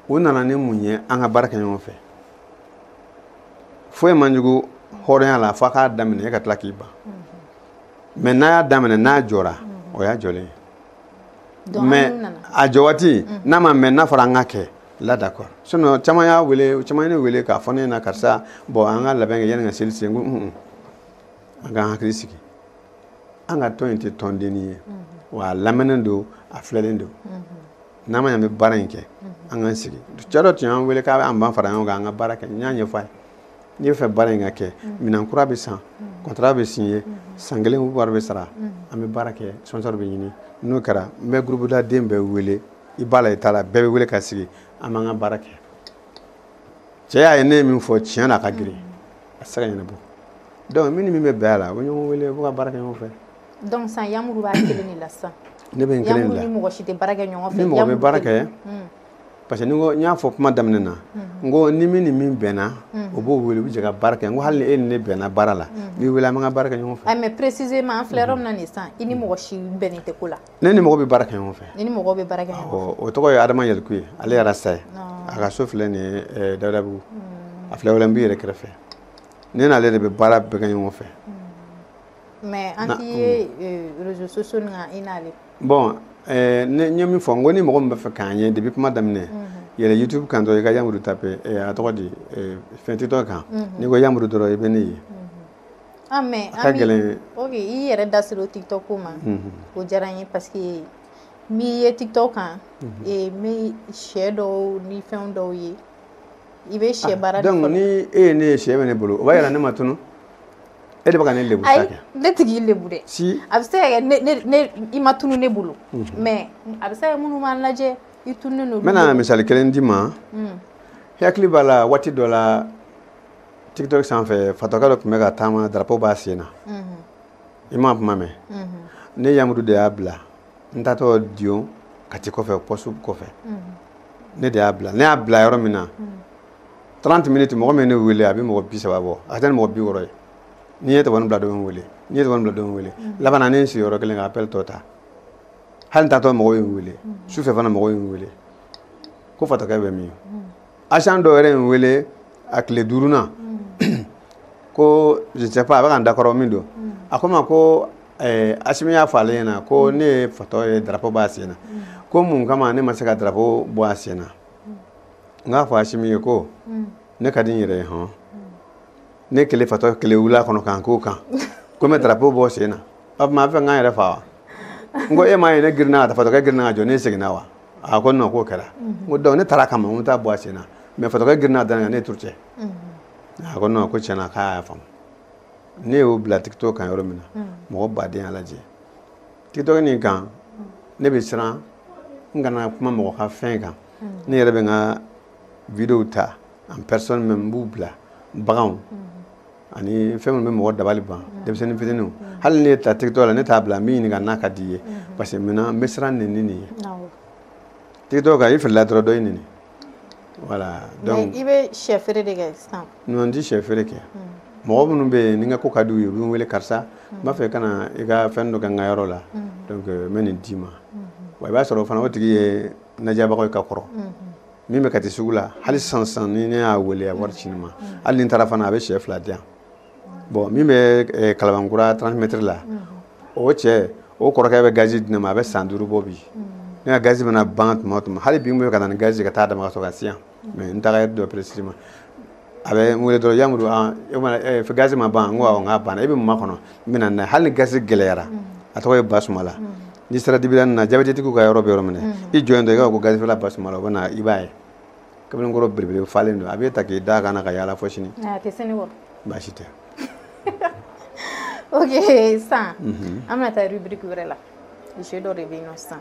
u nana ni mun ye an ka baara kɛ ɲɔgɔn fɛ foyi man jugu hɔrɔnya la f'a k'a daminɛ e ka tila k'i ban mais n'a y'a daminɛ n'a jɔra o y'a jɔlen ye mais a jɔ waati mm. n'a ma mɛn n'a fɔra an ka kɛ la d'accord sinon caman y'a wele caman ye ne wele k'a fɔ ne ɲɛna karisa bon an ka labɛn kɛ yanni ka seli se n ko un an k'an hakili sigi an ka tɔn in tɛ tɔn dennin ye mm-hmm. wa a lamɛnnen don a filɛlen don mm-hmm. n'an ma ɲɛ an bɛ baara in kɛ mm-hmm. an k'an sigi cɛ dɔ tun y'an wele k'a b'an fara ɲɔgɔn kan an ka baara kɛ n y'a ɲɛfɔ a ye n'i bɛ fɛ baara in ka kɛ minɛn kura bɛ san contrat bɛ signé san kelen wari bɛ sara an bɛ baara kɛ sponsor bɛ ɲini n'o kɛra n bɛ groupe la den bɛɛ wele i b'a la i t'a la bɛɛ bɛ wele ka sigi an b'an ka baara kɛ cɛ y'a ye ne ye min fɔ tiɲɛ na a ka girin a tɛ se ka ɲɛnabɔ donc min ni min bɛ bɛn a la u bɛ ɲɔgɔn wele u bɛ ka baara kɛ ɲɔgɔn fɛ donc sisan Yamuru b'a kelen de la sisan ne bɛ n kelen de la Yamuru ni mɔgɔ si tɛ baara kɛ ɲɔgɔn fɛ ni mɔgɔ bɛ baara kɛ parce que n ko n y'a fɔ kuma daminɛ na n ko ni min ni min bɛnna o b'o wele u bɛ jɛ ka baara kɛ n ko hali ni e ni ne bɛnna baara la n b'i wele an bɛ ka baara kɛ ɲɔgɔn fɛ. Ah, mais précisément an filɛ yɔrɔ min na nin sisan i ni mɔgɔ si bɛnnen tɛ ko la. ne ni mɔgɔ bɛ baara kɛ ɲɔgɔn fɛ. ne ni mɔgɔ bɛ baara kɛ ɲɔgɔn fɛ. o tɔgɔ ye Adama Yɛliku ye ale yɛrɛ sa ye a ka so filɛ nin ye eh, Dawudabugu a filɛ wɛrɛ n b'i yɛrɛ kɛrɛfɛ ne n'ale de bɛ baara bɛɛ kɛ ɲɔgɔn fɛ. mais an t'i ye eh, réseaux sociaux nin kan i n'ale. bon eh, n ye min fɔ n ko ni mɔgɔ min bɛ fɛ k'an ye depuis kuma daminɛ mhm. yɛlɛ youtube kan dɔrɔn i ka yamuru tape eh, a tɔgɔ di eh, fɛn tiktok kan mhm. n'i ko yamuru dɔrɔn i bɛ ne ye ah, a ka gɛlɛn ok i yɛrɛ da sera o tiktok ko ma o diyara n ye parce que n b'i ye tiktok kan n bɛ sɛ dɔw ni fɛn dɔw ye i bɛ sɛ baara de fɔlɔ, donc ni e ye ne ye sɛ bɛ ne bolo o b'a yira ne ma tunu e de bɛ ka ne lebu sa kɛ ne tɛ k'i lebu dɛ si a bɛ se ka kɛ i ma tunu ne bolo mhm. mais a bɛ se ka kɛ minnu b'an lajɛ i tununen don n bɛna misali kelen d'i ma mm. i hakili b'a la waati dɔ la tiktok sanfɛ fatɔkɛ dɔ tun bɛ ka taama drapeau b'a sen na mhm. i m'a kuma mɛn mhm. ne yamudu de y'a bila n taatɔ dio kati kɔfɛ poste kɔfɛ ne de y'a bila ne y'a bila yɔrɔ min na 30 minutes mɔgɔ min ne wele a bɛ mɔgɔ bi saba bɔ a tɛ mɔgɔ bi wɔɔrɔ ye n'i ye téléphone bila dɔ ye n wele n'i ye téléphone bila dɔ ye n wele laban na ne ye n sigi yɔrɔ kelen ka appel tɔ ta hali n taatɔ mɔgɔ ye n wele sufɛ fana mɔgɔ ye n wele ko fatɔkɛ bɛ min agent dɔ yɛrɛ ye n wele a tile duurunan mm. ko je sais pas a bɛ ka n dakɔrɔ min don mm. a ko n ma ko eh, asimi y'a fɔ ale ɲɛna ko mm. ne ye fatɔ ye drapeau b'a sen na ko mun kama ne ma se ka drapeau bɔ a sen na n k'a fɔ asimi ye ko ne ka di n yɛrɛ ye hɔn ne kelen fatɔ kelen wula kɔnɔ k'an k'o kan ko n bɛ drapeau bɔ a sen na o tuma a b'a fɛ n ka n yɛrɛ faga wa n ko e m'a ye ne girinna ka taa fatɔkɛ girinna ka jɔ ne seginna wa a ko non k'o kɛra n ko donc ne taara kama n taa bɔ a sen na mais fatɔkɛ girinna da n kan ne turu cɛ a ko non ko tiɲɛ na k'a y'a faamu ne y'o bila tiktok kan yɔrɔ min na mɔgɔ baden y'a lajɛ tiktok nin kan ne bɛ siran n kana kuma mɔgɔ ka fɛn kan ne yɛrɛ bɛ n ka videow ta en personne même n b'u bila baganw ani fɛn minnu bɛ mɔgɔ dabali ban denmisɛnnin fitininw hali ne ta tiktok la ne t'a bila n b'i ɲininka n'a ka di i ye parce que maintenant n bɛ siran nin ni nin ye tiktok kan i filila dɔrɔn dɔ b'i neni voilà donc i bɛ sɛ feere de kɛ sisan non n tɛ sɛ feere kɛ mɔgɔ minnu bɛ yen ni n ka ko ka di u ye u bɛ n wele karisa n b'a fɛ i ka na i ka fɛn dɔ kɛ n ka yɔrɔ la donc n bɛ nin d'i ma wa i b'a sɔrɔ o fana o tigi ye n lajɛbagaw ye ka kɔrɔ min bɛ kati sugu la hali sisan ni ne y'a wele a wari ci ne ma hali ni n taara fana a bɛ sɛ fila di yan bon min bɛ eh, kalabankura 30 mètres la o cɛ o kɔrɔkɛ bɛ gazi di ne ma a bɛ san duuru bɔ bi ne ka gazi mana ban tuma o tuma hali bi n bɛ ka na ni gazi ka taa d'a ma ka sɔrɔ ka se yan mais n taara dɔ peresiri ma a bɛ n wele dɔrɔn yamuru an e mana ɛ fɛ gazi ma ban n ko awɔ n k'a banna e bɛ mun makɔnɔ n bɛ na n'a ye hali ni gazi gɛlɛyara a tɔgɔ ye basumala n'i sera dibida nin na jabɛtitigiw ka yɔrɔ bɛ yɔrɔ min na i jɔ yen dɔrɔn i k'a fɔ ko gazifeerela basumala o bɛ na i b'a ye kamalenkɔrɔ belebele falen don a b'e ta k'i da a kan na ka yaala fo sini a tɛ sɛgɛn bon baasi tɛ ok sisan an bɛna taa rubrique wɛrɛ la jeu dɔ de bɛ yen nɔ sisan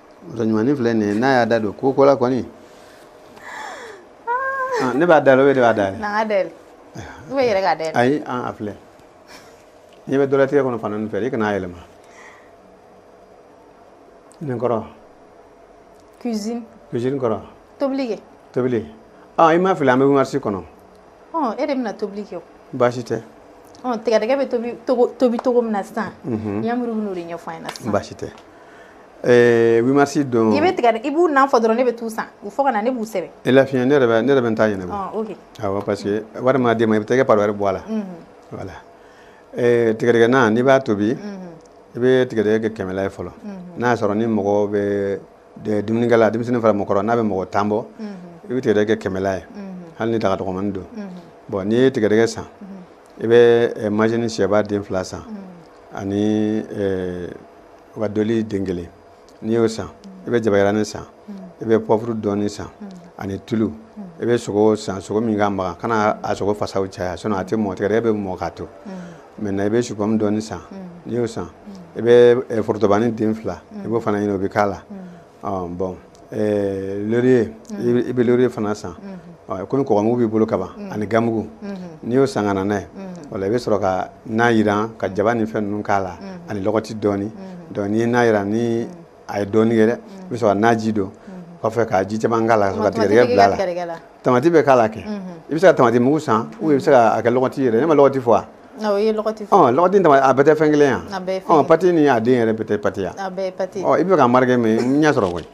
muso ɲumannin filɛ nin ye n'a y'a da don ko ko la kɔni ah, ne b'a dayɛlɛ o de b'a dayɛlɛ n k'a dayɛlɛ ou bien i yɛrɛ k'a dayɛlɛ ayi an a filɛ n'i bɛ dɔlɛtigɛ kɔnɔ fana fɛ i kana a yɛlɛma nin kɔrɔ cuisine cuisine kɔrɔ tobili kɛ tobili ah i m'a filɛ an bɛ marisi kɔnɔ e de bɛna tobili kɛ baasi tɛ tigɛdɛgɛ bɛ tobi cogo min na sisan Yamuru bɛn'o de ɲɛfɔ an ɲɛna sisan baasi tɛ huit mars don i bɛ tigɛ i b'u nan fɔ dɔrɔn ne bɛ t'u san u fɔ ka na ne b'u sɛbɛn e lafiya ne yɛrɛ bɛ n ta ɲɛnabɔ parce que wari mana d'i ma i bɛ t'i ka part wɛrɛ bɔ a la voilà tigɛdɛgɛna n'i b'a tobi i bɛ tigɛdɛgɛ kɛ kɛmɛla ye fɔlɔ n'a y'a sɔrɔ ni mɔgɔ bɛ dumunikɛla denmisɛnnin fara mɔgɔkɔrɔ n'a bɛ mɔgɔ tan bɔ i bɛ tigɛdɛgɛ kɛ kɛmɛla ye hali ni daga dɔgɔmani don bon n'i ye tigɛdɛgɛ san i bɛ majini sɛba den fila san ani u ka doli den kelen n'i y'o san i bɛ jabayiranin san i bɛ pɔfuru dɔɔni san ani tulu i bɛ sogo san sogo min ka magan kana a sogo fasaw caya sinon a tɛ mɔ tigɛdɛgɛ bɛ mɔ k'a to maintenant i bɛ supɔmu dɔɔni san n'i y'o san i bɛ forotobani den fila i b'o fana ɲini o bɛ k'a la bon loriye i bɛ loriye fana san komi kɔgɔmugu b'i bolo kaban ani gamugu n'i y'o san ka na n'a ye wala i bɛ sɔrɔ ka na jiran ka jaba ni fɛn ninnu k'a la ani lɔgɔti dɔɔni donc n'i ye na jiran ni a ye dɔɔni kɛ dɛ i bɛ sɔrɔ ka naji don kɔfɛ ka ji caman k'a la ka tigɛdɛgɛ bila a la tamati bɛ k'a la kɛ i bɛ se ka tamati mugu san ou i bɛ se ka kɛ lɔgɔti yɛrɛ ne ma lɔgɔti fɔ wa awɔ i ye lɔgɔti fɔ ɔ lɔgɔti tamati a bɛɛ tɛ fɛn kelen ya a bɛɛ fɛn ɔ pati ni a den yɛrɛ bɛɛ tɛ pati ya a bɛɛ pati ɔ i bɛ ka marike mais n y'e sɔrɔ koyi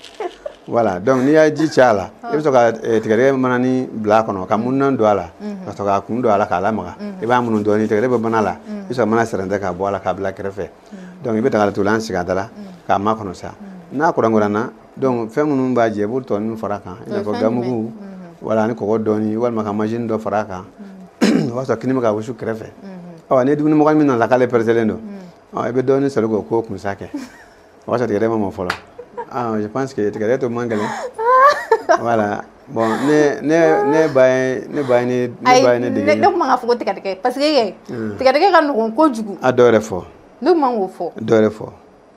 voilà donc n'i y'a ji caya a la i bɛ sɔrɔ ka tigɛdɛgɛ manani bila a kɔnɔ ka mununan don a la ka sɔrɔ k'a kun don a la k'a lamaga i b'a munu dɔɔni tigɛdɛgɛ bɛ mana la i bɛ sɔrɔ mana sɛrɛntɛ k'a bɔ a la k'a bila kɛrɛfɛ donc i bɛ dagadatugulan sigi a da la k'a makɔnɔ sa n'a kurankurana Donc fɛn minnu b'a jɛ i b'o tɔ ninnu far'a kan i n'a fɔ gamugu wala ani kɔgɔ dɔɔni walima ka majini dɔ far'a kan o b'a sɔrɔ kini bɛ ka wusu kɛrɛfɛ ɔ ni dumunimɔgɔ min nana k'ale pɛrɛsɛlen don i bɛ dɔɔni soli k'o k'o kunsa kɛ o b'a sɔrɔ tigɛdɛgɛ ma mɔ fɔlɔ je pense que tigɛdɛgɛ to man gɛlɛn voilà bon ne ne ne ba ye ne ba ye ne ne ba ye ne dege ne tun man k'a fɔ ko tigɛdɛgɛ parce que tigɛdɛgɛ ka nɔgɔn kojugu a dɔ wɛrɛ fɔ ne tun man k'o fɔ dɔ wɛrɛ fɔ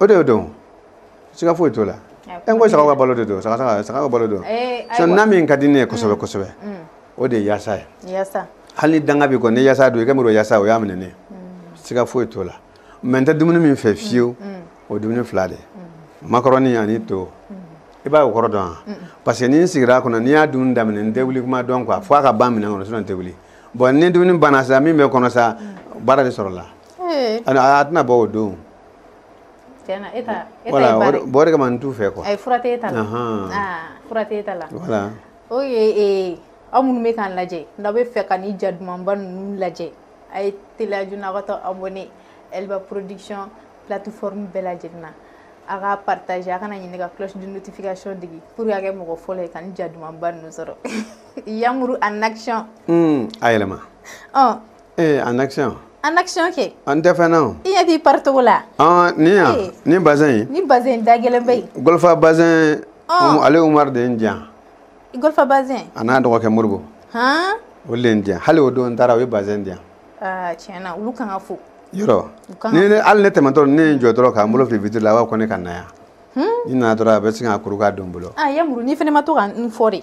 o de y'o dɔn siga foyi t'o la e ko saga ka balo de don saga saga ka balo don eh, sɔ na min ka di ne ye kosɛbɛ mm. kosɛbɛ mm. o de ye yaasa ye hali ni danga b'i kɔ ni yaasa don i ka muru yaasa o y'a minɛ ne mm. siga foyi t'o la mais n tɛ dumuni min fɛ fiyewu o dumuni fila de makɔrɔni ani to i b'a o kɔrɔ dɔn wa parce que ni n sigira a kɔnɔ n'i y'a dumuni daminɛ n tɛ wuli kuma dɔn quoi fo a ka ban minɛn kɔnɔ sinon n tɛ wuli bon ni dumuni banna sa min bɛ kɔnɔ sa baara de sɔrɔla eh. a tɛna bɔ o don Tiɲɛna e ta e ta ye baara ye voilà o de kama n t'u fɛ quoi ayi fura tɛ e ta la anhan aa fura tɛ e ta la voilà ok ee aw minnu bɛ k'an lajɛ n'aw bɛ fɛ ka ni ja dumanba ninnu lajɛ a ye teliya joona aw ka taa abonné Elba production plateforme bɛɛ lajɛlen na a ka partage a kana ɲinɛ ka cloche de notification digi pour que a ka kɛ mɔgɔ fɔlɔ ye ka ni ja dumanba ninnu sɔrɔ Yamuru en action uun a yɛlɛma ɔn ee en action en action kɛ an tɛ fɛn na o i ɲɛ t'i pari togo la ɔn nin yan Ee. nin bazɛn in ni bazɛn da gɛlɛn bɛ yen golfa bazɛn Ɔn. Umu- ale umaru de ye nin di yan i golfa bazɛn a n'a dɔgɔkɛ moribo han o de ye nin di yan hali o don n taara o ye bazɛn di yan aa tiɲɛ na olu kan ka fo yɔrɔ U kan ni ne- hali ne tɛmɛtɔ ne ye n jɔ dɔrɔn ka n bolo fili vitre la a b'a fɔ ko ne ka na yan ni n nana dɔrɔn a bɛ sin k'a kuru k'a don n bolo aa yamuru n'i fana ma to ka n fɔ de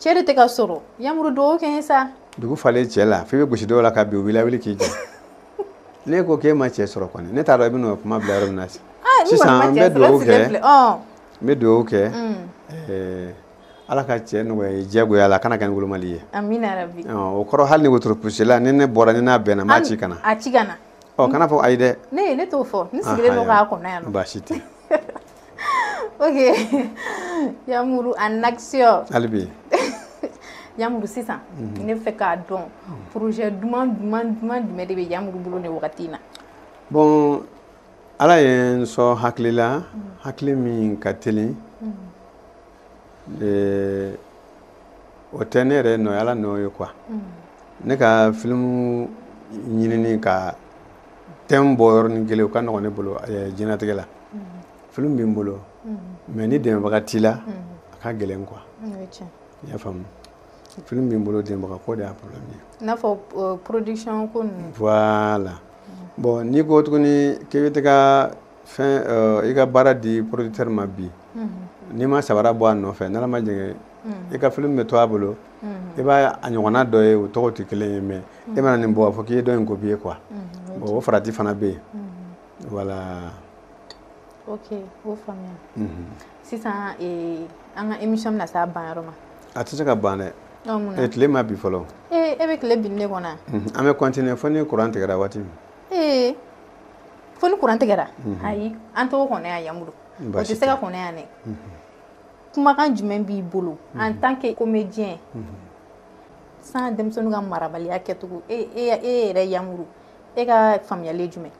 cɛ de tɛ ka sɔrɔ yamuru dugawu kɛ n ye sa dugu falen cɛ la f'i bɛ gosi dɔw la ka bin u b'i lawuli k'i jɔ ne ko k'e ma cɛ sɔrɔ kɔni ne t'a dɔn i bɛ n'o kuma bila yɔrɔ min na ah, sisan n bɛ dugawu kɛ n bɛ dugawu kɛ ala ka cɛ nɔgɔya i ye diyagoya la a kana kɛ ni wolomali ye o kɔrɔ hali ni wotoro pusela ni ne bɔra ni n'a bɛnna n b'a ci ka na a ci ka na ɔ kana fɔ ayi dɛ ne ne t'o fɔ n sigilen don k'a kɔnɔ yan baasi tɛ ok yamuru en action hali bi yamuru sisan mhm. ne fɛ k'a dɔn projet duman duman duman jumɛn de bɛ yamuru bolo nin wagati in na bon ala ye n sɔn hakili la mhm. hakili min ka teli mhm. eh, o tɛ ne yɛrɛ nɔ ye ala nɔ ye quoi ne ka filimu ɲinini ka tɛmu bɔ yɔrɔnin kelen o ka nɔgɔn ne bolo eh, diɲɛnatigɛ la filimu bɛ n bolo mais ni dɛmɛbaga t'i la a ka gɛlɛn quoi i y'a faamu filimu bɛ n bolo dɛmɛbaga ko de y'a problème ye i n'a fɔ euh, production ko ninnu voilà bon n'i ko tuguni k'i bɛ taga fɛn euh, i ka baara di producteur ma bi n'i ma sabara bɔ a nɔfɛ n'ala ma jɛngɛ i ka filimu bɛ to a bolo i b'a a ɲɔgɔnna dɔ ye o tɔgɔ tɛ kelen ye mais e mana nin bɔ a fɔ k'i ye dɔ in copier quoi o farati fana bɛ yen voilà ok o faamuya mhm. sisan eh, an ka émission bɛna s'a ban yɔrɔ ma a tɛ se ka ban dɛ e tile ma bin fɔlɔ e bɛ tile bin de kɔnɔ mhm. an bɛ continuer fo ni kuran tigɛra waati min ee fo ni kuran tigɛra mhm. ayi an t'o kɔnɔ yan yamuru o tɛ se ka kɔnɔ yan dɛ kumakan jumɛn b'i bolo en tant que comédien san denmisɛnninw ka marabaliya kɛcogo e yɛrɛ yamuru e ka faamuyali jumɛn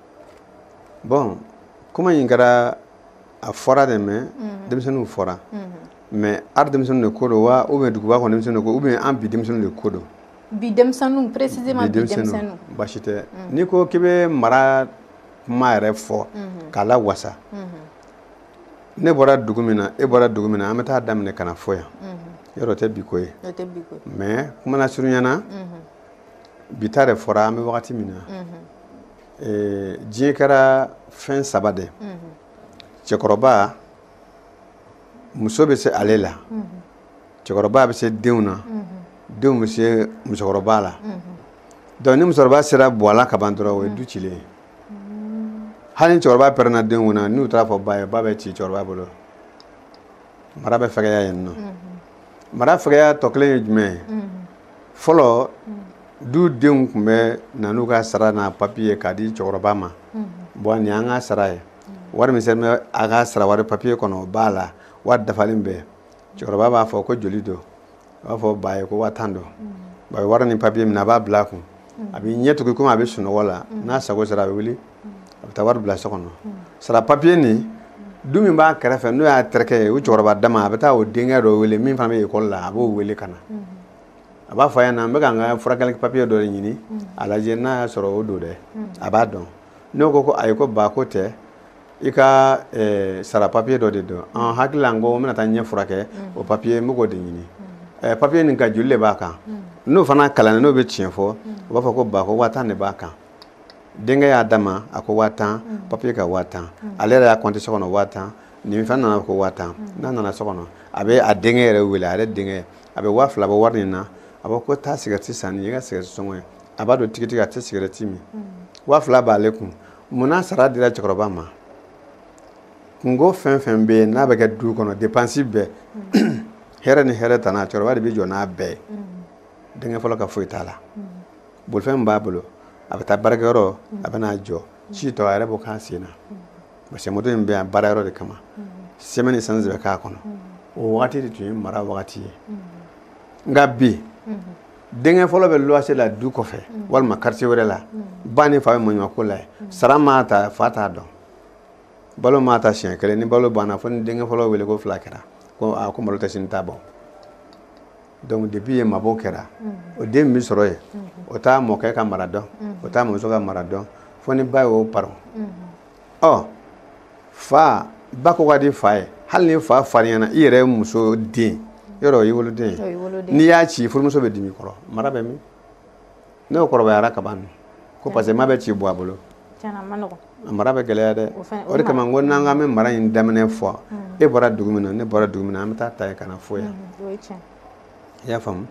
bɔn kuma in kɛra a fɔra dɛ mɛ mhm. denmisɛnninw fɔra mhm. mɛ ari denmisɛnnin de ko don wa ou bien duguba kɔnɔ denmisɛnnin ko ou bien an bi denmisɛnnin de ko don bi denmisɛnninw précisément bi denmisɛnninw basi tɛ mhm. n'i ko k'i bɛ mara kuma yɛrɛ fɔ k'a lawasa ne bɔra dugu min na e bɔra dugu min na an bɛ taa daminɛ ka na fo yan yɛrɛ o tɛ bi ko ye mɛ kuma lasurunya na bi ta de fɔra an bɛ wagati min na eh, diɲɛ kɛra fɛn saba de cɛkɔrɔba muso bɛ se ale la cɛkɔrɔba bɛ se denw na denw bɛ se musokɔrɔba la dɔnku ni musokɔrɔba sera buwa la ka ban dɔrɔn o ye du cilen ye hali ni cɛkɔrɔba pɛrɛnna denw kun na n'u taara a fɔ ba ye ba bɛ ci cɛkɔrɔba bolo mara bɛ fɛgɛya yen nɔ mara fɛgɛya tɔ kelen ye jumɛn ye fɔlɔ du denw tun bɛ na n'u ka sara n'a papiye k'a di cɛkɔrɔba ma bɔn nin y'an ka sara ye wari min sɛbɛn bɛ a ka sara wari papiye kɔnɔ o b'a la wari dafalen bɛɛ cɛkɔrɔba b'a fɔ ko joli don a b'a fɔ ba ye ko waa tan don ba bɛ wari ni papiye minɛ a b'a bila a kun a bɛ ɲɛ tugun komi a bɛ sunɔgɔ la n'a sago sera a bɛ wuli a bɛ taa wari bila so kɔnɔ sara papiye nin du min b'a kɛrɛfɛ n'o y'a terikɛ ye o cɛkɔrɔba dama a bɛ taa o denkɛ dɔ wele min fana bɛ ekɔli la a b'o wele ka na a b'a fɔ a ɲɛna n bɛ ka n ka furakɛli papiye dɔ de ɲini a lajɛ n'a y'a sɔrɔ o don dɛ a b'a dɔn n'o ko ko ayi ko ba k'o tɛ i ka eh, sara papiye dɔ de don an hakili la n ko n bɛna taa ɲɛ furakɛ o papiye n bɛ k'o de ɲini eh, papiye nin kan joli de b'a kan n'o fana kalannen n'o bɛ tiɲɛ fɔ o b'a fɔ ko ba ko waa tan de b'a kan denkɛ y'a d'a ma a ko waa tan papiye kan waa tan ale yɛrɛ y'a kɔnte so kɔnɔ waa tan nin fɛn nana ko waa tan n'a nana so kɔnɔ a bɛ a denkɛ yɛrɛ wele a yɛrɛ denkɛ a bɛ waa fila bɔ wari nin na a b'a ko taa sigɛrɛti san nin y'i ka sigɛrɛti sɔngɔ ye a b'a dɔn tigitigi a tɛ sigɛrɛti min waa fila b'ale kun munna sara dira cɛkɔrɔba ma kunko fɛn fɛn bɛ yen n'a bɛ kɛ du kɔnɔ depansi bɛɛ hɛrɛ ni hɛrɛtana cɛkɔrɔba de bɛ jɔ n'a bɛɛ ye denkɛ fɔlɔ ka foyi t'a la bolifɛn b'a bolo a bɛ taa baarakɛyɔrɔ a bɛ n'a jɔ ci tɔ a yɛrɛ b'o k'a sen na parce que moto in bɛ yan baarayɔrɔ de kama sɛmɛni esansi bɛ k'a kɔnɔ o wagati de tun ye mara wagati ye nka bi denkɛ fɔlɔ bɛ luwanse la du kɔfɛ mm. walima karitiye wɛrɛ la mm. ba ni fa bɛ maɲumako la ye mm. sara ma ta fa t'a dɔn balo ma ta siɲɛ kelen ni balo banna fo ni denkɛ fɔlɔ wele ko fila kɛra ko a ko malo tɛ sini ta bɔ donc depuis ye mabɔ kɛra o den min bɛ sɔrɔ yen mm-hmm. o t'a mɔkɛ ka mara dɔn mm-hmm. o t'a mɔmuso ka mara dɔn fo ni ba y'o paron mm-hmm. ɔ fa ba ko ka di fa ye hali ni fa farinyana i yɛrɛ muso den yɔrɔ i woloden n'i y'a ci furumuso bɛ dimi kɔrɔ mara bɛ min n'o kɔrɔbayara ka ban ko parce que ma bɛ ci bɔ a bolo mara bɛ gɛlɛya dɛ o de kama ko n'an k'an bɛ mara in daminɛ fɔ mm. e bɔra dugu min na ne bɔra dugu min na an bɛ taa ta yen ka na fɔ yan mm, i y'a faamu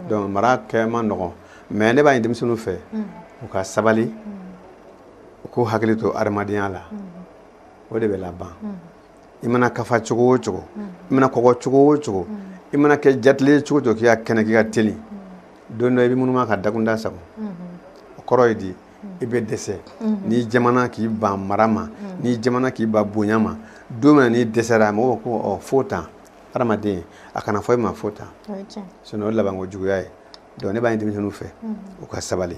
donc mara kɛ man nɔgɔn mais ne b'a ɲini denmisɛnninw fɛ mm. u ka sabali u k'u hakili to adamadenya la o de bɛ laban i mana kafa cogo o cogo i mana kɔgɔ cogo o cogo i mana kɛ jatilen cogo o cogo k'i ka kɛnɛ k'i ka teli don dɔ i bɛ munuma ka dakunda sagon o kɔrɔ ye di i bɛ dɛsɛ n'i jamana k'i ban mara ma n'i jamana k'i ban bonya ma don min na n'i dɛsɛra a mɔgɔw ko fo tan adamaden a kana fɔ i ma fo tan sinon o labanko juguya ye donc ne b'a ɲini denmisɛnninw fɛ u ka sabali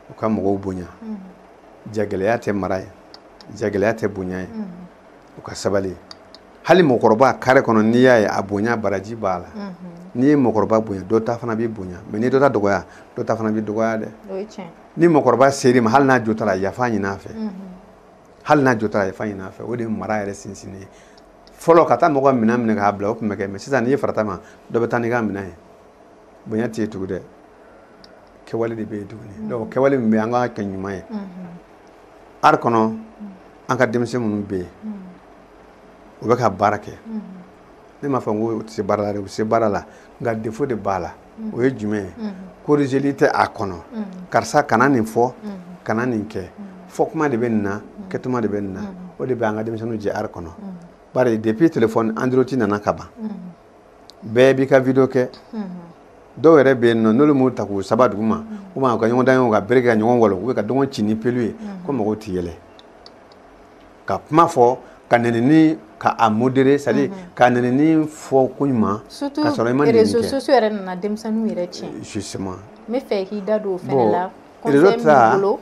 u ka mɔgɔw bonya jagɛlɛya tɛ mara ye jagɛlɛya tɛ bonya ye u ka sabali hali mɔgɔkɔrɔba kare kɔnɔ n'i y'a ye a bonya baraji b'a la n'i ye mɔgɔkɔrɔba bonya dɔ ta fana b'i bonya mais n'i dɔ ta dɔgɔya dɔ ta fana b'i dɔgɔya dɛ ni mɔgɔkɔrɔba ser'i ma hali n'a jo t'a la yafa ɲin'a fɛ hali n'a jo t'a la yafa ɲin'a fɛ o de ye mara yɛrɛ sinsin ye fɔlɔ ka taa mɔgɔ minɛn minɛ k'a bila o tun bɛ kɛ mais sisan n'i y'i farat'a ma dɔ bɛ taa n'i ka minɛn ye bonya tɛ yen tugun dɛ kɛwale de bɛ yen tuguni mm. donc kɛwale min bɛ yen an k'a kɛ ɲuman ye mm-hmm. art kɔnɔ mm. an ka denmisɛn minnu bɛ yen mm. u bɛ ka baara kɛ mm-hmm. ne m'a fɔ n ko u tɛ se baara la dɛ u bɛ se baara la nka défaut de b'a la mm-hmm. o ye jumɛn ye korizeli tɛ a kɔnɔ karisa kana nin fɔ kana nin kɛ fɔ kuma de bɛ nin na kɛtuma de bɛ nin na o de bɛ an ka denmisɛnninw jɛ art kɔnɔ bari depuis téléphone android nana ka ban bɛɛ b'i ka video kɛ dɔw yɛrɛ bɛ yen nɔ n'olu m'u ta k'u saba dugu ma ou bien ka ɲɔgɔn dan ye ka bere ka ɲɔgɔn walon u ka dɔ kun ci ni pelu ye ko mɔgɔw tɛ yɛlɛ ka kuma fɔ ka nɛnini ka a modérer c'est-à-dire ka nɛnini fɔ ko ɲuman ka sɔrɔ i ma nɛnini kɛ réseaux sociaux yɛrɛ nana denmisɛnninw yɛrɛ tiɲɛ justement n bɛ fɛ k'i da don o fɛnɛ la conseil min b'i bolo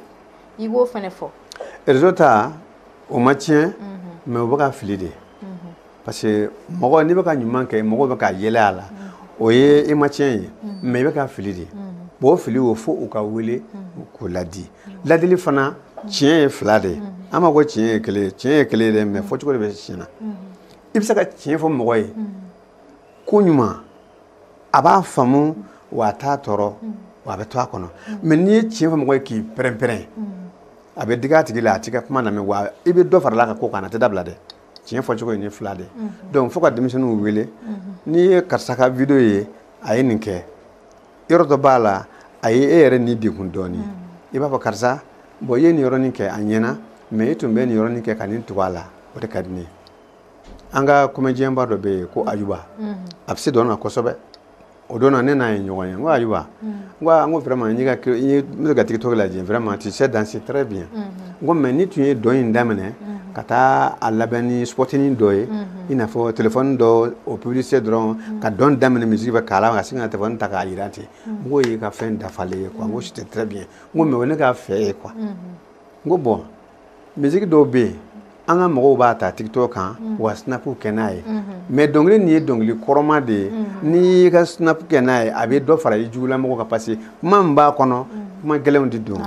i b'o fɛnɛ fɔ réseau ta u ma tiɲɛ mais u bɛ ka fili de parce que mɔgɔ n'i bɛ ka ɲuman kɛ mɔgɔw bɛ ka yɛlɛ a la o ye e ma tiɲɛ ye mais i bɛ ka fili de bon o fili o fo u k'a wele k'o ladi ladili fana tiɲɛ ye fila de ye an ma ko tiɲɛ ye kelen ye tiɲɛ ye kelen ye dɛ mais fɔcogo de bɛ tiɲɛ na i bɛ se ka tiɲɛ fɔ mɔgɔ ye ko ɲuman a b'a faamu wa a t'a tɔɔrɔ wa a bɛ to a kɔnɔ mais n'i ye tiɲɛ fɔ mɔgɔ ye k'i pɛrɛn-pɛrɛn a bɛ digi a tigi la a t'i ka kuma lamɛn wa i bɛ dɔ fara a ka ko kan a t'a dabila dɛ tiɲɛ fɔcogo ye ni fila de donc fo ka denmisɛnninw wele n'i ye karisa ka video ye a ye nin kɛ yɔrɔ dɔ b'a la a ye e yɛrɛ ni degun dɔɔni i b'a fɔ karisa bon i ye nin yɔrɔnin kɛ a ɲɛna mais i tun bɛ nin yɔrɔnin kɛ ka nin tugu a la o de ka di ne ye an ka comédienba dɔ bɛ yen ko ayuba a bɛ se dɔn na kosɛbɛ o don na ne n'a ye ɲɔgɔn ye n ko ayiwa n ko aa n ko vraiment n ka n b'i ka tiktok lajɛ vraiment tu sais danser très bien n ko mais n'i tun ye dɔn in daminɛ ka taa a laban ni spotinin dɔ ye i n'a fɔ telefɔni dɔ o publicité dɔrɔn ka dɔn daminɛ musique bɛ k'a la ka sin ka telefɔni ta k'a jira ten n k'o y'i ka fɛn dafalen ye quoi n ko c'était très bien n ko mais o ye ne ka fɛ ye quoi n ko bon misiki dɔw bɛ yen an ka mɔgɔw b'a ta tiktok kan mm. wa snap kɛ n'a ye mm-hmm. mais dɔnkili nin ye dɔnkili kɔrɔma de ye mm-hmm. n'i y'i ka snap kɛ n'a ye a bɛ dɔ fara i jugulamɔgɔ kan parce que kuma min b'a kɔnɔ mm. kuma gɛlɛnw de don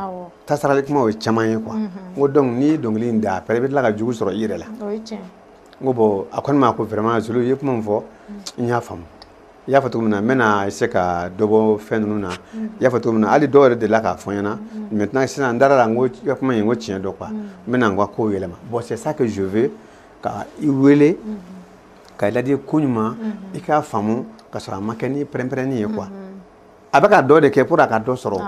tasarali kumaw ye caman ye quoi mm-hmm. n ko donc n'i ye dɔnkili in da après i bɛ tila ka jugu sɔrɔ i yɛrɛ la n ko bon a ko ne ma ko vraiment zulu i ye kuma min fɔ n y'a faamu i y'a fɔ cogo min na n bɛna essayer ka dɔ bɔ fɛn ninnu na mm. i y'a fɔ cogo min na hali dɔw yɛrɛ delila k'a fɔ n ɲɛ na mm. maintenant sisan n dara a la n ko i ka kuma in n ko tiɲɛ don quoi mm. n bɛna n ka kow yɛlɛma bon c'est ça que je veux ka i wele mm-hmm. ka i ladi ko ɲuman mm-hmm. i k'a faamu ka sɔrɔ a ma kɛ ni pɛrɛnpɛrɛnni ye quoi mm-hmm. a bɛ ka dɔ de kɛ pour a ka dɔ sɔrɔ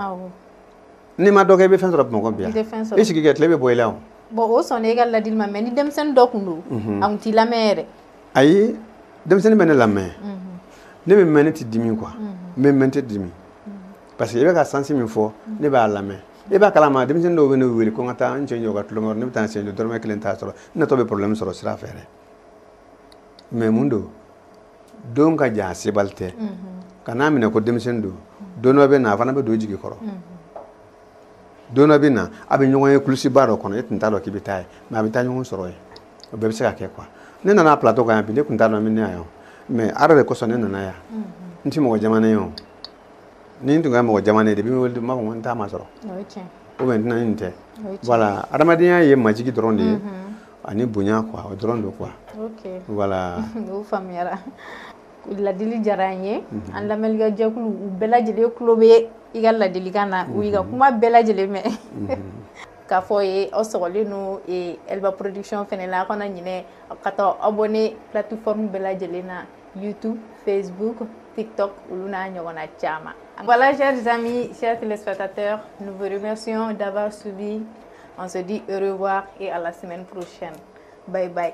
n'i ma dɔ kɛ i bɛ fɛn sɔrɔ bamakɔ bi yan i sigi kɛ tile bɛ bɔ i la o. bon o sɔnna e ka ladili ma mais ni denmisɛnnin dɔ tun don a tun t'i lamɛn yɛrɛ. ayi denmisɛnnin bɛ ne lamɛn ne bɛ mɛn ne tɛ dimi quoi n bɛ mɛn tɛ dimi parce que i bɛ ka sansi min fɔ ne b'a lamɛn e b'a kalama denmisɛnnin dɔw bɛ ne wele ko n ka taa n cɛ jɔ ka tulon kɛ ne bɛ taa n cɛ jɔ dɔrɔmɛ kelen t'a sɔrɔ n natɔ bɛ problème sɔrɔ sira fɛ dɛ mais mun don don ka jan a sebali tɛ kan'a minɛ ko denmisɛnnin don don dɔ bɛ na a fana bɛ don i jigi kɔrɔ don dɔ bɛ na a bɛ ɲɔgɔn ye kulusiba dɔ kɔnɔ e tun t'a dɔn k'i bɛ taa yen mais a bɛ taa ɲɔgɔn sɔrɔ yen o bɛɛ bɛ se ka kɛ quoi ne nana plateau kan yan bi ne tun t'a dɔn n bɛ na yan mais ala de kosɔn ne nana yan n tɛ mɔgɔ jamanen ye o ni n tun ka mɔgɔ jamanen ye de bɛ n wele n b'a fɔ ko n t'a masɔrɔ ou bien n tɛna nin tɛ voilà adamadenya ye majigi dɔrɔn de ye ani bonya quoi o dɔrɔn don quoi voilà Ladili diyara an ye an lamɛnlikɛjɛkulu u bɛɛ lajɛlen tulo bɛ i ka ladilikan na u y'i ka kuma bɛɛ lajɛlen mɛn k'a fɔ ye aw sɔgɔlen don Elba production fɛnɛ la aw kana ɲinɛ ka t'aw abonner plateforme bɛɛ lajɛlen na YouTube Facebook TikTok olu n'a ɲɔgɔnna caman voilà chers amis chers téléspectateurs nous vous remercions d'avoir suivi on se dit au revoir et à la semaine prochaine bye bye